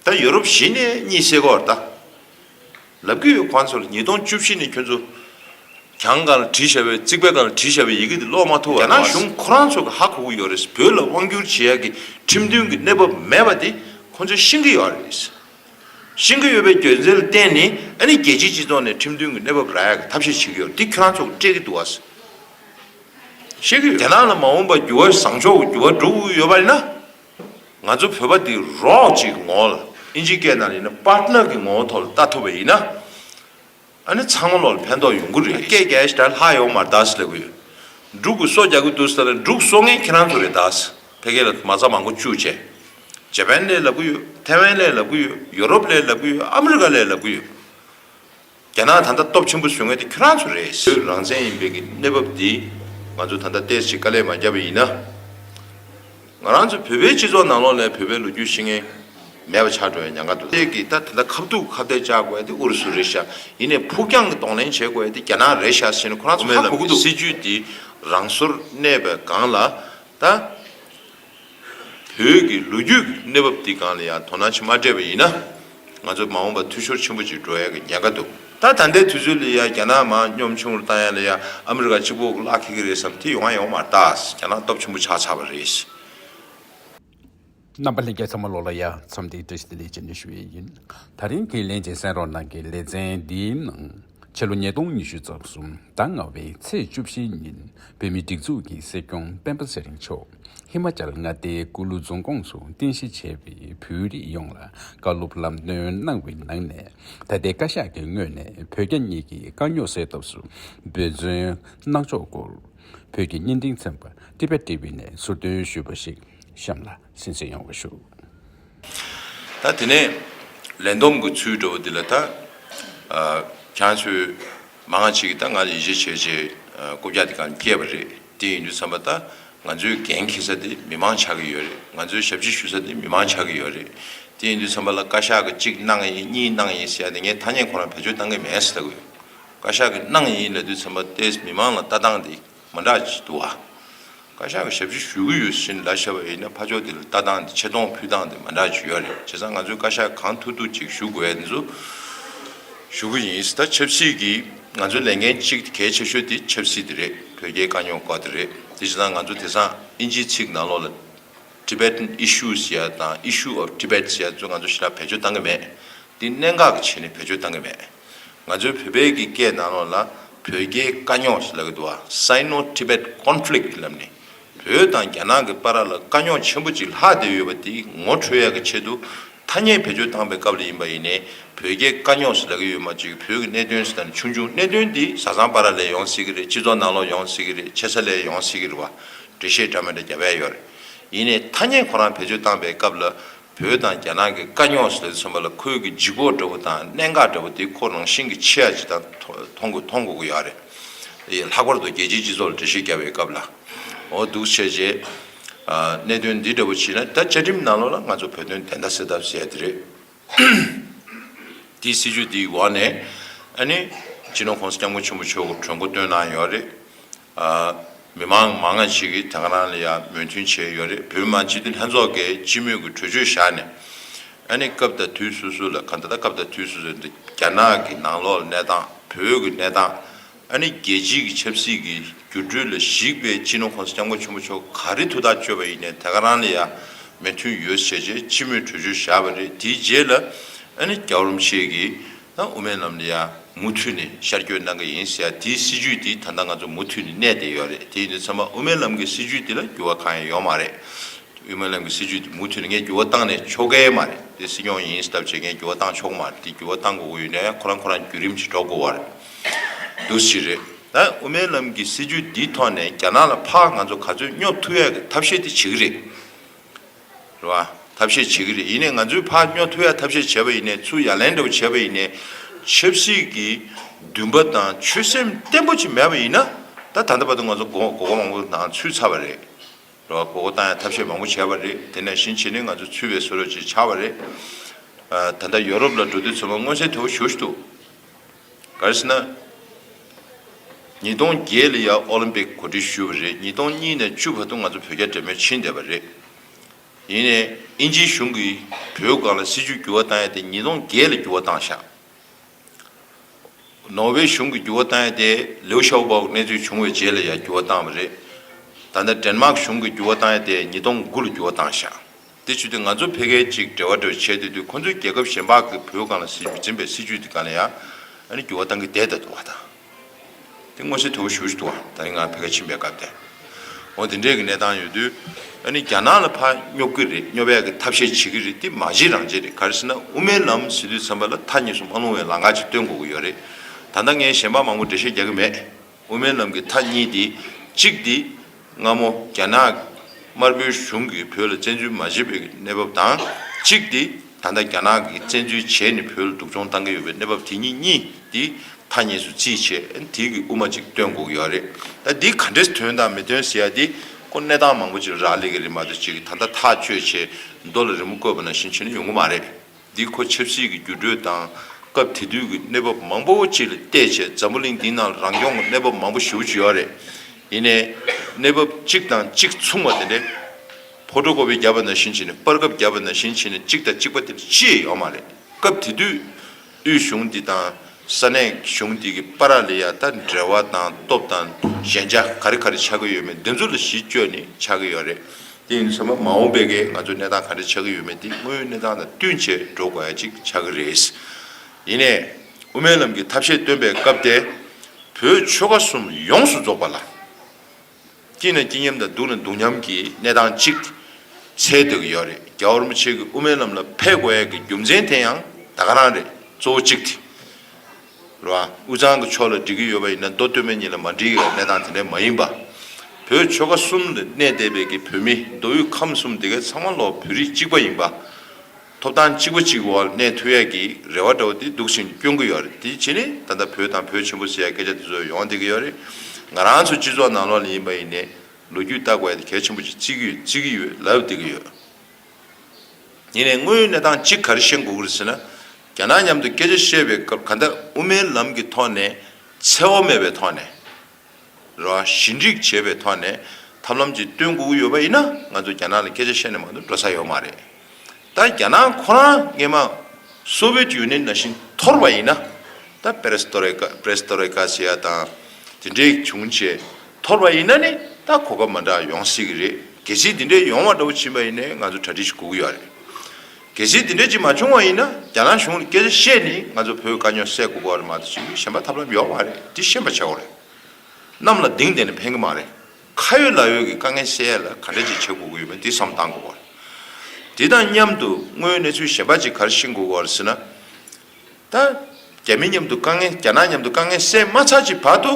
ད་ཡོ་རོབ་གཞི་ནས་གཉིད་སད་གོ་ད། ལབ་ཀྱི་ཡོད་ཁོང་ཚོ་ལ་ཉིས་སྟོང་བཅུ་བཞི་ནས་ཁྱོད་ཚོ་གྱང་གང་ལ་བྲིས་བཞག་པའི་རྩིག་པ་གང་ལ་བྲིས་བཞག་པའི་ཡི་གེ་དེ་ཀློག་མ་ཐུབ་བ་རེད། རྒྱ་ནག་གཞུང་ཁོ་རང་ཚོ་གི་ཧ་གོ་གི་ཡོད་རེད་བོད་ལ་དབང་བསྒྱུར་བྱེད་ཡག་གི་ཁྲིམས་མཐུན་གི་གནས་བབ་མེད་པ་དེ་ཁོང་ཚོས་ཤེས་ཀྱི་ཡོད་རེད། ཤེས་ཀྱི་ཡོད་པའི་རྒྱུ་མཚན་ལ་བརྟེན་ནས་ཨ་ནི་རྒྱལ་སྤྱིའི་སྤྱི་ཚོགས་ནས་ཁྲིམས་མཐུན་གི་གནས་བབ་རག་ཡག་གི་ཐབས་ཤེས་བྱེད་ཀྱི་ཡོད་དེ་ཁྱོད་རང་ཚོ་ཀྱི་སྤྲད་ཀྱི་འདུག་བ། ཤེས་ཀྱི་ཡོད། རྒྱ་ནག་ལ་མ་འོངས་པར་འགྱུར་བ་བཟང་ཕྱོགས་ཀྱི་འགྱུར་བ་འགྲོ་གི་ཡོད་པ་རེད་ན། ང་ཚོ་བོད་པ་འདི་རོགས་ཀྱི་ངོ་བོ་ལ་ཨིན་ཇི་སྐད་ནང་ལ་ཡིན་ན Partner གི་ངོ་བོ་ཐོག་ལ་བལྟ་ཐུབ་པ་ཡིན་ན་ཨ་ནི་ཚང་མ་ལོག་ལ་ཕན་ཐོག་ཡོང་གི་རེད། སྐད་རྒྱ་ཡིས་ད་ལྷག་ཡོང་མར་གདའ་སི་ལེ་བུ་ཡོད། འབྲུག་གུ་སོ་རྒྱག་གི་འདུག་སི་ལེ་ན་འབྲུག་སོ་ངན་ཁྱེད་རང་ཚོ་རེད་གདའ་སི་ཕེ་གེ་ལ་མ་རྩ་མང་པོ་བཅུག་བྱས། ཇེ་པན་ལས་ལབ་གི་ཡོད་ཐེ་ཝན་ལས་ལབ་གི་ཡོད་ཡོ་རོབ་ལས་ལབ་གི་ཡོད་ཨ་མི་རི་ཀ་ལས་ལབ་གི་ཡོད། རྒྱ་ནག་ད་ལྟ་སྟོབས་ཆེན་པོ་བཟོས་ངེས་དེ་ཁྱོད་རང་ཚོ་རེད། བོད་རང་བཙན་ཡིན་པའི་གི་གནས་བབ་འདི་ང་ཚོ་ད་ལྟ་སྟེར་ཕྱིར་དཀའ་ལས་མ་བརྒྱབ་པ་ཡིན་ན། ང་རང་ཚོ་བོད་པའི་སྤྱི་ཚོགས་ནང་ལོག་ནས་བོད་པའི་ལོ་རྒྱུས་ཤེས་མཁན་མེད་པ་ཆགས་འགྲོ་བའི་ཉང་ཁ་འདུག་དེ་གི་ད་ད་ལྟ་ཁ་བཏུག་ཁ་བརྡལ་བཅག་དགོས་དེ་ཨུ་རུ་སུ་རེད་ཤག་ཡིན་ནས་ཕུགས་རྒྱང་གི་གདོང་ལེན་བྱེད་དགོས་དེ་རྒྱ་ནག་རེད་ཤག་ཟེར་ནས་ཁོ་རང་ཚོ་ཧ་གོ་གི་འདུག། སྲིད་ཇུས་འདི་རང་སོར་གནས་པའི་སྒང་ལ་ད། བོད་ཀྱི་ལོ་རྒྱུས་ཀྱི་གནས་བབ་འདི་གང་ལ་ཡང་དོ་སྣང་བྱེད་མ་སྤྲད་པ་ཡིན་ན། ང་ཚོ་མ་འོངས་པར་འཐུས་ཤོར་ཆེན་པོ་ཅིག་འགྲོ་ཡག་གི་ཉེན་ཁ་འདུག་ད་ད་ལྟའི་དུས་ཚོད་ལ་ཡང་རྒྱ་ནག་མང་གཉོམ་ཆུང་རུ་བཏང་ཡག་ལ་ཡང་ཨ་མི་རི་ཀ་གཅིག་པོ་བརླག་ཁེལ་གྱི་རེད་བསམ་དེ་ཡོང་ཨ་ཡོང་མ་ད་རྒྱ་ནག་སྟོབས་ཆེན་པོ་ཆགས་ཚར་བ་རེད། རྣམ་པ་ལྷན་རྒྱས་ཚང་མ་ལོག་ལ་ཡ་མཚམས་འདི་བཀྲ་ཤིས་བདེ་ལེགས་བྱེད་ནས་ཞུ་ཡས་ཡིན། ད་རིང་གི་ལན་ཅིག་གསན་རོགས་གནང་གི་ལེ་ཚན་འདིའི་ནང། ཕྱི་ལོ་ཉིས་སྟོང་ཉི་ཤུ་རྩ་གསུམ་ཟླ་ལྔ་བའི་ཚེས་བཅུ་བཞི་ཉིན་བོད་མིའི་སྒྲིག་འཛུགས་ཀྱི་སྲིད་སྐྱོང་སྤེན་པ་ཚེ་རིང་མཆོག་ཧི་མ་ཅཱལ་མངའ་སྡེའི་ཀུ་ལུ་རྫོང་ཁོངས་སུ་རྟེན་གཞི་བྱས་པའི་བོད་རིགས་ཡོངས་ལ་བཀའ་སློབ་ལམ་སྟོན་གནང་བའི་ནང་ནས་ད་ལྟའི་བཀའ་ཤག་གི་ངོས་ནས་བོད་རྒྱ་གཉིས་ཀྱི་དཀའ་རྙོག་སེལ་ཐབས་སུ་འབད་བརྩོན་གནང་ཕྱོགས་སྐོར་བོད་ཀྱི་བརྙན་འཕྲིན་ཚན་པ Tibettv ནས་ཚུར་འདོན་ཞུས་པ་ཞིག་གཤམ་ལ་གསན་བསྲིངས་ཡོང་བ་ཞུ། ད་དེ་ནས་ལན་འདོམས་ཀྱི་ཚུལ་འགྲོ་བ་འདི་ལ་ད་གྱང་ཚོས་མ་ང་ཅིག་ད་ང་ཡི་ཞེས་བྱས་རྗེས་སྐོ་བརྒྱག་དེ་གང་སྐྱེས་པ་རེད་དེ་ཡིན་དུས་བསམ་པ་ད་ང་ཚོའི་འགན་འཁྱེར་ས་དེ་མི་མང་ཆགས་ཀྱི་ཡོད་རེད་ང་ཚོའི་ཞབས་ཕྱི་ཞུ་ས་དེ་མི་མང་ཆགས་ཀྱི་ཡོད་རེད་དེ་ཡིན་དུས་བསམ་པ་ལ་བཀའ་ཤག་གི་གཅིག་གནང་ཡིན་གཉིས་གནང་ཡིན་ཟེར་ཡ་དེ་ངས་ཐ་སྙད་ཁོ་རང་བེད་སྤྱོད་གཏང་གི་མེད་ཟེར་ལྟ་གི་ཡོད་བཀའ་ཤག་གི་གནང་ཡིན་ལབ་དུས་བསམ་པ་ཏེས་མི་མང་ལ་ལྟ་སྟངས་དེ། མ་འདྲ་ཅིག་འདུག་ཨ། བཀའ་ཤག་གི་ཞབས་ཕྱི་ཞུ་གི་ཡོད་བཞིན་ལ་བཤད་པ་ཡིན་ན་ཕ་ཕྱོགས་དེ་ལ་ལྟ་སྟངས་དེ་ཆེ་མཐོང་ཕུལ་སྟངས་དེ་མ་འདྲ་ཅིག་ཡོད་རེད་བྱས་ཙང་ང་ཚོས་བཀའ་ཤག་གང་ཐུག་ཐུག་ཅིག་ཞུ་དགོས་དེ་ཚོ་ཞུ་གི་ཡིན་ད་ཆབ་སྲིད་ཀྱི་ང་ཚོའི་ལས་འགན་གཅིག་དེ་གལ་ཆེ་ཤོས་དེ་ཆབ་སྲིད་དེ་རེད་དོལ་རྒྱལ་དཀའ་རྙོག་སྐོར་དེ་རེད་དེ་བྱས་ཙང་ང་ཚོ་དེ་སང་ཨིན་ཇིའི་ཚིག་ནང་ལོག་ལ Tibetan Issues ཡ་དང Issue of Tibets ཡ་ཚོ་ང་ཚོ་ཞི་རགས་བེད་སྤྱོད་བཏང་གི་མེད་དེ་གནད་འགག་གི་ཆེད་ནས་བེད་སྤྱོད་བཏང་གི་མེད། ང་ཚོའི་བོད་པའི་གི་སྐད་ནང་ལོགས་ལ་བོད་རྒྱའི་དཀའ་རྙོག་ཞེས་ལབ་ཀྱི་འདུག་བ། Sino Tibet Conflict། ཀྱི་ལབ་ནས་བོད་དང་རྒྱ་ནག་གི་པ་ར་ལ་དཀའ་རྙོག་ཆེན་པོ་ཅིག་ལྷག་བསྡད་ཡོད་པ་དེ་ངོ་འཕྲོད་ཡག་གི་ཆེད་དུ་ཐ་སྙད་བེད་སྤྱོད་བཏང་པའི་སྐབས་ལ་ཡིན་པ་ཡིན་ནས་བོད་རྒྱའི་དཀའ་རྙོག་ཞེས་ལབ་ཀྱི་ཡོད་མ་བཅོས་ཀྱི་བོད་ཀྱི་གནད་དོན་ཞེས་དང་ཆུང་ཆུང་གནད་དོན་དེ་བཟའ་ཚང་པ་ར་ལས་ཡོང་སྲིད་ཀྱི་རེད་སྤྱི་ཚོགས་ནང་ལོགས་ཡོང་སྲིད་ཀྱི་རེད་ཆེ་ས་ལས་ཡོང་སྲིད་ཀྱི་རེད་བ། འགྲེལ་བཤད་འདྲ་མི་འདྲ་རྒྱབ་ཡ་ཡོད་རེད། ཡིན་ནས་ཐ་སྙད་ཁོ་རང་བེད་སྤྱོད་བཏང་པའི་སྐབས་ལ་བོད་དང་རྒྱ་ནག་གི་དཀའ་རྙོག་སེལ་མཚོན་པ་ལ་ཁོལ་གྱི་ལྗིད་ཁོག་འདྲ་བོ་དང་གནད་འགག་འདྲ་བོ་དེ་ཁོ་རང་བཞིན་གྱི་ཆེ་ཡ་ཇི་ལྟར་མཐོང་དགོས་མཐོང་དགོས་ཀྱི་ཡོད་རེད། ལྷག་པར་དུ་རྒྱལ་སྤྱིའི་སྤྱི་ཚོགས་ལ་འགྲེལ་བཤད་རྒྱག་པའི་སྐབས་ལ་འོ་སྡུག་ཆེ་རྗེས། གནད་དོན་འདི་འདྲ་བོ་མཆིས་ན་ད་བཅའ་ཁྲིམས་ནང་ལོགས་ལ་ང་ཚོ་བོད་དོན་བདེན་མཐའ་སེལ་ཐབས་བྱས་ཏེ་རེད། དེའི་སྲིད་ཇུས་དེའི་འོག་ནས་ཨ་ནི་ཇི་ནོ་ཁོང་སྐྱབས་མགོན་ཆེན་པོ་མཆོག་གིས་གྲོས་མགོ་བཏོན་གནང་ཡོད་རེད། མི་མང་མང་ང་ཅིག་གིས་དེང་རང་ལ་ཡང་མོས་མཐུན་བྱས་ཡོད་རེད་བོད་མི་མང་སྤྱི་འཐུས་ལྷན་ཚོགས་ཀྱིས་སྤྱི་མོས་ཀྱི་གྲོས་ཆོད་བཞག་ནས་ཨ་ནི་སྐབས་དང་དུས་སོ་སོ་ལ་ག་ད་ད་སྐབས་དང་དུས་སོ་སོའི་འདི་རྒྱ་ནག་གི་ནང་ལོགས་གནས་སྟངས་བོད་ཀྱི་གནས་སྟངས་ཨ་ནི་རྒྱལ་སྤྱི་གི་ཆབ་སྲིད་ཀྱི་འགྱུར་འགྲོས་ལ་གཞིགས་པའི་སྤྱི་ནོར་ཁོང་ས་སྐྱབས་མགོན་ཆེན་པོ་མཆོག་ག་རེ་ཐུགས་ཐག་གཅོད་པ་ཡིན་ནས་དེ་ག་རང་ལ་ཡང་མོས་མཐུན་ཡོད་བྱས་རྗེས་སྤྱི་མོས་གྲོས་ཆོད་བཞག་པ་རེད་དེའི་རྗེས་ལ་ཨ་ནི་རྒྱ་བོར་མཆེད་ཀྱིས། དང་དབུ་མའི་ལམ་འདི་ཡང་མུ་མཐུད་ནས་ཤར་སྐྱོད་གནང་གི་ཡིན་ཟེར་དེའི་སྲིད་ཇུས་དེ་ད་ལྟ་ང་ཚོ་མུ་མཐུད་ནས་གནས་བསྡད་ཡོད་རེད་དེ་ཡིན་དུས་ཚང་མ་དབུ་མའི་ལམ་གྱི་སྲིད་ཇུས་དེ་ལ་འགྱུར་བ་གང་ཡང་ཡོང་མ་རེད་དབུས་མའི་ལམ་གྱི་སྲིད་ཇུས་དེ་མུ་མཐུད་ནས་ངས་འགྱུར་བ་བཏང་ནས་ཆོག་གི་མ་རེད་དེ་སྲིད་སྐྱོང་ཡིན་སྟབས་ཆེ་ངས་འགྱུར་བ་བཏང་ཆོག་གི་མ་རེད་དེ་འགྱུར་བ་བཏང་དགོས་དགོས་ཡོད་ན་ཡང་ཁོ་རང་ཁོ་རང་བརྒྱུད་རིམ་གྱིས་འགྲོ་དགོས་བ་རེད་འདུག་ཞིག་རེད་ད་དབུ་མའི་ལམ་གྱི་སྲིད་ཇུས་འདིའི་ཐོག་ནས་རྒྱ་ནག་ལ་ཕག་ང་ཚོ་ག་ཚོད་སྙོབ་ཐུབ་ཡག་གི་ཐབས་ཤེས་དེ་བྱེད་ཀྱི་རེད། རེད་བ། ཐབས་ཤེས་བྱེད་ཀྱི་རེད་ཡིན་ནས་ང་ཚོའི་ཕ་སྨྱོ་ཐུ་ཡ་ཐབས་ཤེས་བྱས་པ་ཡིན་ནས་ཚུར་ཡ་ལན་འདྲ་བོ་བྱས་པ་ཡིན་ནས་ཆབ་སྲིད་ཀྱི་འདུན་པ་དང་ཆོད་སེམས་བརྟན་པོ་ཅིག་མེད་པ་ཡིན་ན་ད་ད་ལྟ་བར་དུ་ང་ཚོ་གོ་གོ་མང་པོ་ནང་ཚུད་ཚར་བ་རེད་བ་གོ་གོ་བཏང་ཡ་ཐབས་ཤེས་མང་པོ་བྱས་པ་རེད་དེ་ནས་ཕྱིན་ཆད་ནི་ང་ཚོ་ཚུད་བའི་སོ་རོ་ཅིག་ཆགས་པ་རེད། ད་ལྟ་ཡོ་རོབ་ལ་འགྲོ་དུས་ཚོད་མ་མངོན་གསལ་དོད་པོ་ཞུ་ཞུ་ཐུབ། གལ་སྲིད་ན། ཉིས་སྟོང་བརྒྱད་ལ་ཡང་ཨོ་ལིམ་པིག་གོ་སྒྲིག་ཞུས་པ་རེད་ཉིས་སྟོང་གཉིས་ནས་བཅུ་བར་དུ་ང་ཚོ་བོད་རྒྱ་འབྲེལ་མོལ་ཕྱིན་བསྡད་པ་རེད། ཡིན་ནས་ཨིན་ཇིའི་གཞུང་གིས་བོད་སྒང་ལ་སྲིད་བྱུས་འགྱུར་བ་བཏང་ཡས་དེ་ཉིས་སྟོང་བརྒྱད་ལ་འགྱུར་བ་བཏང་ཤག། ནོར་ཝེ་གཞུང་གིས་འགྱུར་བ་བཏང་ཡས་དེ་ལིའུ་ཤའོ་པའོ་གནས་ཚུལ་བྱུང་བའི་རྗེས་ལ་ཡང་འགྱུར་བ་བཏང་བ་རེད། ད་ལྟ་དྲན་མག་གཞུང་གིས་འགྱུར་བ་བཏང་ཡས་དེ་ཉིས་སྟོང་དགུ་ལ་འགྱུར་བ་བཏང་ཤག། དེ་བྱུས་ཏེ་ང་ཚོ་ཕལ་སྐད་ཅིག་འབྲེལ་བ་འདྲ་བྱས་ཏེ་དུས་ཁོ་ཚོས་རྒྱལ་ཁབ་གཞན་ཕག་གི་བུ་གང་ལ་སྲིད་ཇུས་འཛིན་པའི་སྲིད་ཇུས་དེ་གང་ལ་ཡང་འགྱུར་བ་གཏང་གི་བསྡད་ད་འདུག་བ་དང། དེ་མངོན་གསལ་དོད་པོ་ཞུ་ཞུ་འདུག་བ་ད་རིང་ང་ཕལ་སྐད་ཕྱིན་པའི་སྐབས་དེ་འོ་དེ་འདྲའི་གི་གནས་སྟངས་ཡོད་དུས་རྒྱ་ནག་ལ་ཕག་སྙོབ་གི་རེད་སྙོབ་ཡག་གི་ཐབས་ཤེས་བྱེད་གི་རེད་དེ་མ་བྱེད་རང་བྱེད་རེད་ག་རེ་ཟེར་ན་དབུ་མའི་ལམ་ཟེར་དུས་ཚན་པ་ལ་མཐའ་གཉིས་སུ་མ་ལྷུང་བའི་ལང་ཀ་ཅིག་སྟོན་དགོས་གི་ཡོད་རེད་ད་ལྟ་ངས་གཞན་ཕག་མང་པོ་འགྲེལ་བཤད་རྒྱག་གི་མེད། དབུ་མའི་ལམ་གྱི་མཐའ་གཉིས་ཏེ། གཅིག་སྟེ། སྔ་མོ་རྒྱ་ནག་དམར་པོའི་གཞུང་གིས་བོད་ལ་བཙན་འཛུལ་མ་བྱས་པའི་གནས་བབ་དང། གཅིག་སྟེ། ད་ལྟ་རྒྱ་ནག་གིས་བཙན་འཛུལ་བྱས་ནས་བོད་ལ་སྡུག་སྦྱོང་བཏང་གི་ཡོད་པའི་གནས་བབ་དེ་གཉིས་གཉིས་ཏེ། མཐའ་གཉིས་སུ་བརྩིས་བྱས་ཨན་དེ་གི་དབུ་མ་ཅིག་སྟོན་དགོས་ཀྱི་ཡོད་རེད། ད་འདིས་ག་འདྲའི་དོན་དང་མི་དོན་ཟེར་ཡ་དེ་ཁོ་གནས་སྟངས་མང་པོ་ཅིག་ལ་རག་ལས་ཀྱི་རེད་མ་གཏོགས་ཅིག་ད་ལྟ་ཐག་གཅོད་བྱེད་མདོ་ལ་རི་མོ་བཀོད་པ་ན་བཞིན་བྱེད་ན་ཡོང་གི་མ་རེད། འདི་ཁོ་ཆབ་སྲིད་ཀྱི་འགྱུར་འགྲོས་དང་སྐབས་དེ་དུས་ཀྱི་གནས་བབ་མང་པོ་བཅས་ལ་བལྟས་ཆེད་འཛམ་བུ་གླིང་འདི་ནང་ལ་རང་སྐྱོང་གི་གནས་བབ་མང་པོ་ཞིབ་བྱུས་ཡོད་རེད། ཡིན་ནའི། གནས་བབ་གཅིག་དང་གཅིག་མཚུངས་པ་དེ་འདྲའི། ཕོ་ཁྲོ་ཀོ་བའི་རྒྱ་བ་ན་བཞིན་བྱས་ནས་སྤར་ཁབ་རྒྱ་བ་ན་བཞིན་བྱས་ནས་གཅིག་དང་གཅིག་པ་དེ་འདྲ་ཅིས་ཡོད་མ་རེད། སྐབས་དེ་དུས། དབུས་གཞུང་འདི་དང་ས་གནས་གཞུང་འདི་ཀྱི་པ་ར་ལི་ཡ་ད་འབྲེལ་བ་དང་སྟོབས་དང་ཞན་ཆ་ག་རེ་ག་རེ་ཆགས་ཀྱི་ཡོད་མེད་འདི་ཚོ་ལ་གཞི་བཅོལ་ནས་ཆགས་ཀྱི་ཡོད་རེད། དེ་ཡིན་ཚེ་མ་འོངས་པའི་ང་ཚོའི་གནས་སྟངས་ག་འདྲ་ཆགས་ཀྱི་ཡོད་མེད་དེ་དངོས་ཡོད་གནས་སྟངས་དང་བསྟུན་བྱས་འགྲོ་དགོས་ཡ་གཅིག་ཆགས་ཀྱི་རེད། ཡིན་ནས་དབུ་མའི་ལམ་གྱི་ཐབས་ཤེས་སྟོན་པའི་སྐབས་དེ་བོད་ཆོལ་ཁ་གསུམ་ཡོངས་སུ་རྫོགས་པ་ལ། སྐྱིད་ན་སྐྱིད་མཉམ་དང་སྡུག་ན་སྡུག་མཉམ་གྱི་གནས་སྟངས་གཅིག་ཚད་འདོད་ཀྱི་ཡོད་རེད་རྒྱ་དབར་མོ་ཆེ་གི་དབུ་མའི་ལམ་ལ་ཕེབས་དགོས་ཡ་གི་རྒྱུ་མཚན་དེ་ཡང་ད་ག་རང་རེད་གཙོ་བོ་གཅིག་དེ། ལ། དབུས་གཙང་གི་ཕྱོགས་ལ་འགྲིག་གི་ཡོད་པ་ཡིན་ན་མདོ་སྟོད་སྨད་གཉིས་ལ་མ་འགྲིག་ཡོད་པའི་གནས་སྟངས་དེ་འདྲ་མ་ཡིན་པ། བོད་ཆོལ་ཁ་གསུམ་ལ་གནས་བསྡད་པའི་གི་བོད་མི་མདོ་དབུས་ཁམས་གསུམ་དེ་གའི་ཚང་མ་ལོག་བོད་རིགས་གཅིག་པ་ཡིན་པ། ཐོབ་ཐང་གཅིག་པ་གཅིག་འོག་གནས་ཐུབ་ཡས་ཀྱི་རེ་བ་འདྲ་བོ་དེ་སྡུག་ཅིང་སྐྱོ་གི་ཡོད་རེད་དེའི་ཕྱིར་ནི་ད་ལྟ་བོད་དང་བོད་ཆེན་པོ་ཟེར་ཡས་སྐད་ཆ་དེ་ཚོ་ཡོང་བསྡད་གི་ཡོད་རེད། ང་རང་ཚོ་སྤྱི་ཚོགས་ནང་ལོག་ལ་ཡིན་པ་ཡིན་ནས་ལོ་རྒྱུས་བལྟ་དགོས་ཡས་དེ་གལ་ཆེན་པོ་ཅིག་བརྩི་གི་ཡོད་ལབ་བསྡད་གི་ཡོད། ཉིད་ནས་དངོས་ཡོད་གནས་སྟངས་གཅིག་ག་རེ་བཤད་འགོ་ཁུར་ཟེར་ན། རྒྱ་ནག་མཉམ་དུ་སྐད་ཆ་བཤད་པའི་སྐབས་ག་འདྲ་དབུ་མའི་ལམ་གྱི་ཐོག་ནས་འཚེ་བ་མེད་པའི་ཐོག་ནས། རེད་བ། ཞི་འགྲིག་བྱེད་པའི་ཐོག་ནས་ཐབས་ལམ་ཅིག་སྟོན་དགོ་གི་ཡོད་པ་ཡིན་ན་ང་ཚོ་རྒྱ་ནག་ལ་སྐད་ཆ་བཤད་ནས་མང་དུ་འགྲོ་ས་ཡོད་མ་རེད། ད་རྒྱ་ནག་ཁོ་རང་སྔན་མ Soviet Union ནང་བཞིན་འཐོར་བ་ཡིན་ན། ད Perestroika Perestroika ཟེར་ཡ་དང་དེ་འདྲའི་བྱུང་རྗེས། འཐོར་བ་ཡིན་ན་ནི་ད་གོ་སྐབས་མ་འདྲ་ཡོང་སྲིད་གི་རེད་གལ་སྲིད་དེ་འདྲའི་ཡོང་བ་འདྲ་བོ་བྱིན་པ་ཡིན་ནའི་ང་ཚོ་གྲ་སྒྲིག་ཞིག་གོ་གི་ཡོད་རེད་གལ་སྲིད་དེ་འདྲའི་ཅིག་མ་བྱུང་བ་ཡིན་ན་རྒྱ་ནག་གཞུང་ལ་སྐད་ཆ་བཤད་ནི་ང་ཚོ་བོད་དཀའ་རྙོག་སེལ་དགོས་པ་རེད་མ་གཏོགས་ཅིག་གཞན་པ་ཐབས་ལམ་ཡོད་མ་རེད་དེ་ཤེས་པ་ཆེ་བ་རེད་གནམ་ལ་ལྡིང་བསྡད་ནས་ཕན་གི་མ་རེད་ཁ་ཡོད་ལག་ཡོད་ཀྱི་དཀའ་ངལ་སེལ་ཡ་ལ་ག་འདྲ་ཅིག་བྱེད་དགོས་ཀྱི་ཡོད་མེད་དེ་བསམ་གཏང་དགོས་པ་རེད་དེ་དང་མཉམ་དུ་དངོས་གནས་ཚུལ་གཞན་པ་ཅིག་གར་ཤིང་དགོས་པ་རེད་ཟེར་ན། ད། རྒྱ་མི་མཉམ་དུ་དཀའ་ངལ་རྒྱ་ནག་མཉམ་དུ་དཀའ་ངལ་སེལ་མ་ཚར་གྱི་བར་དུ།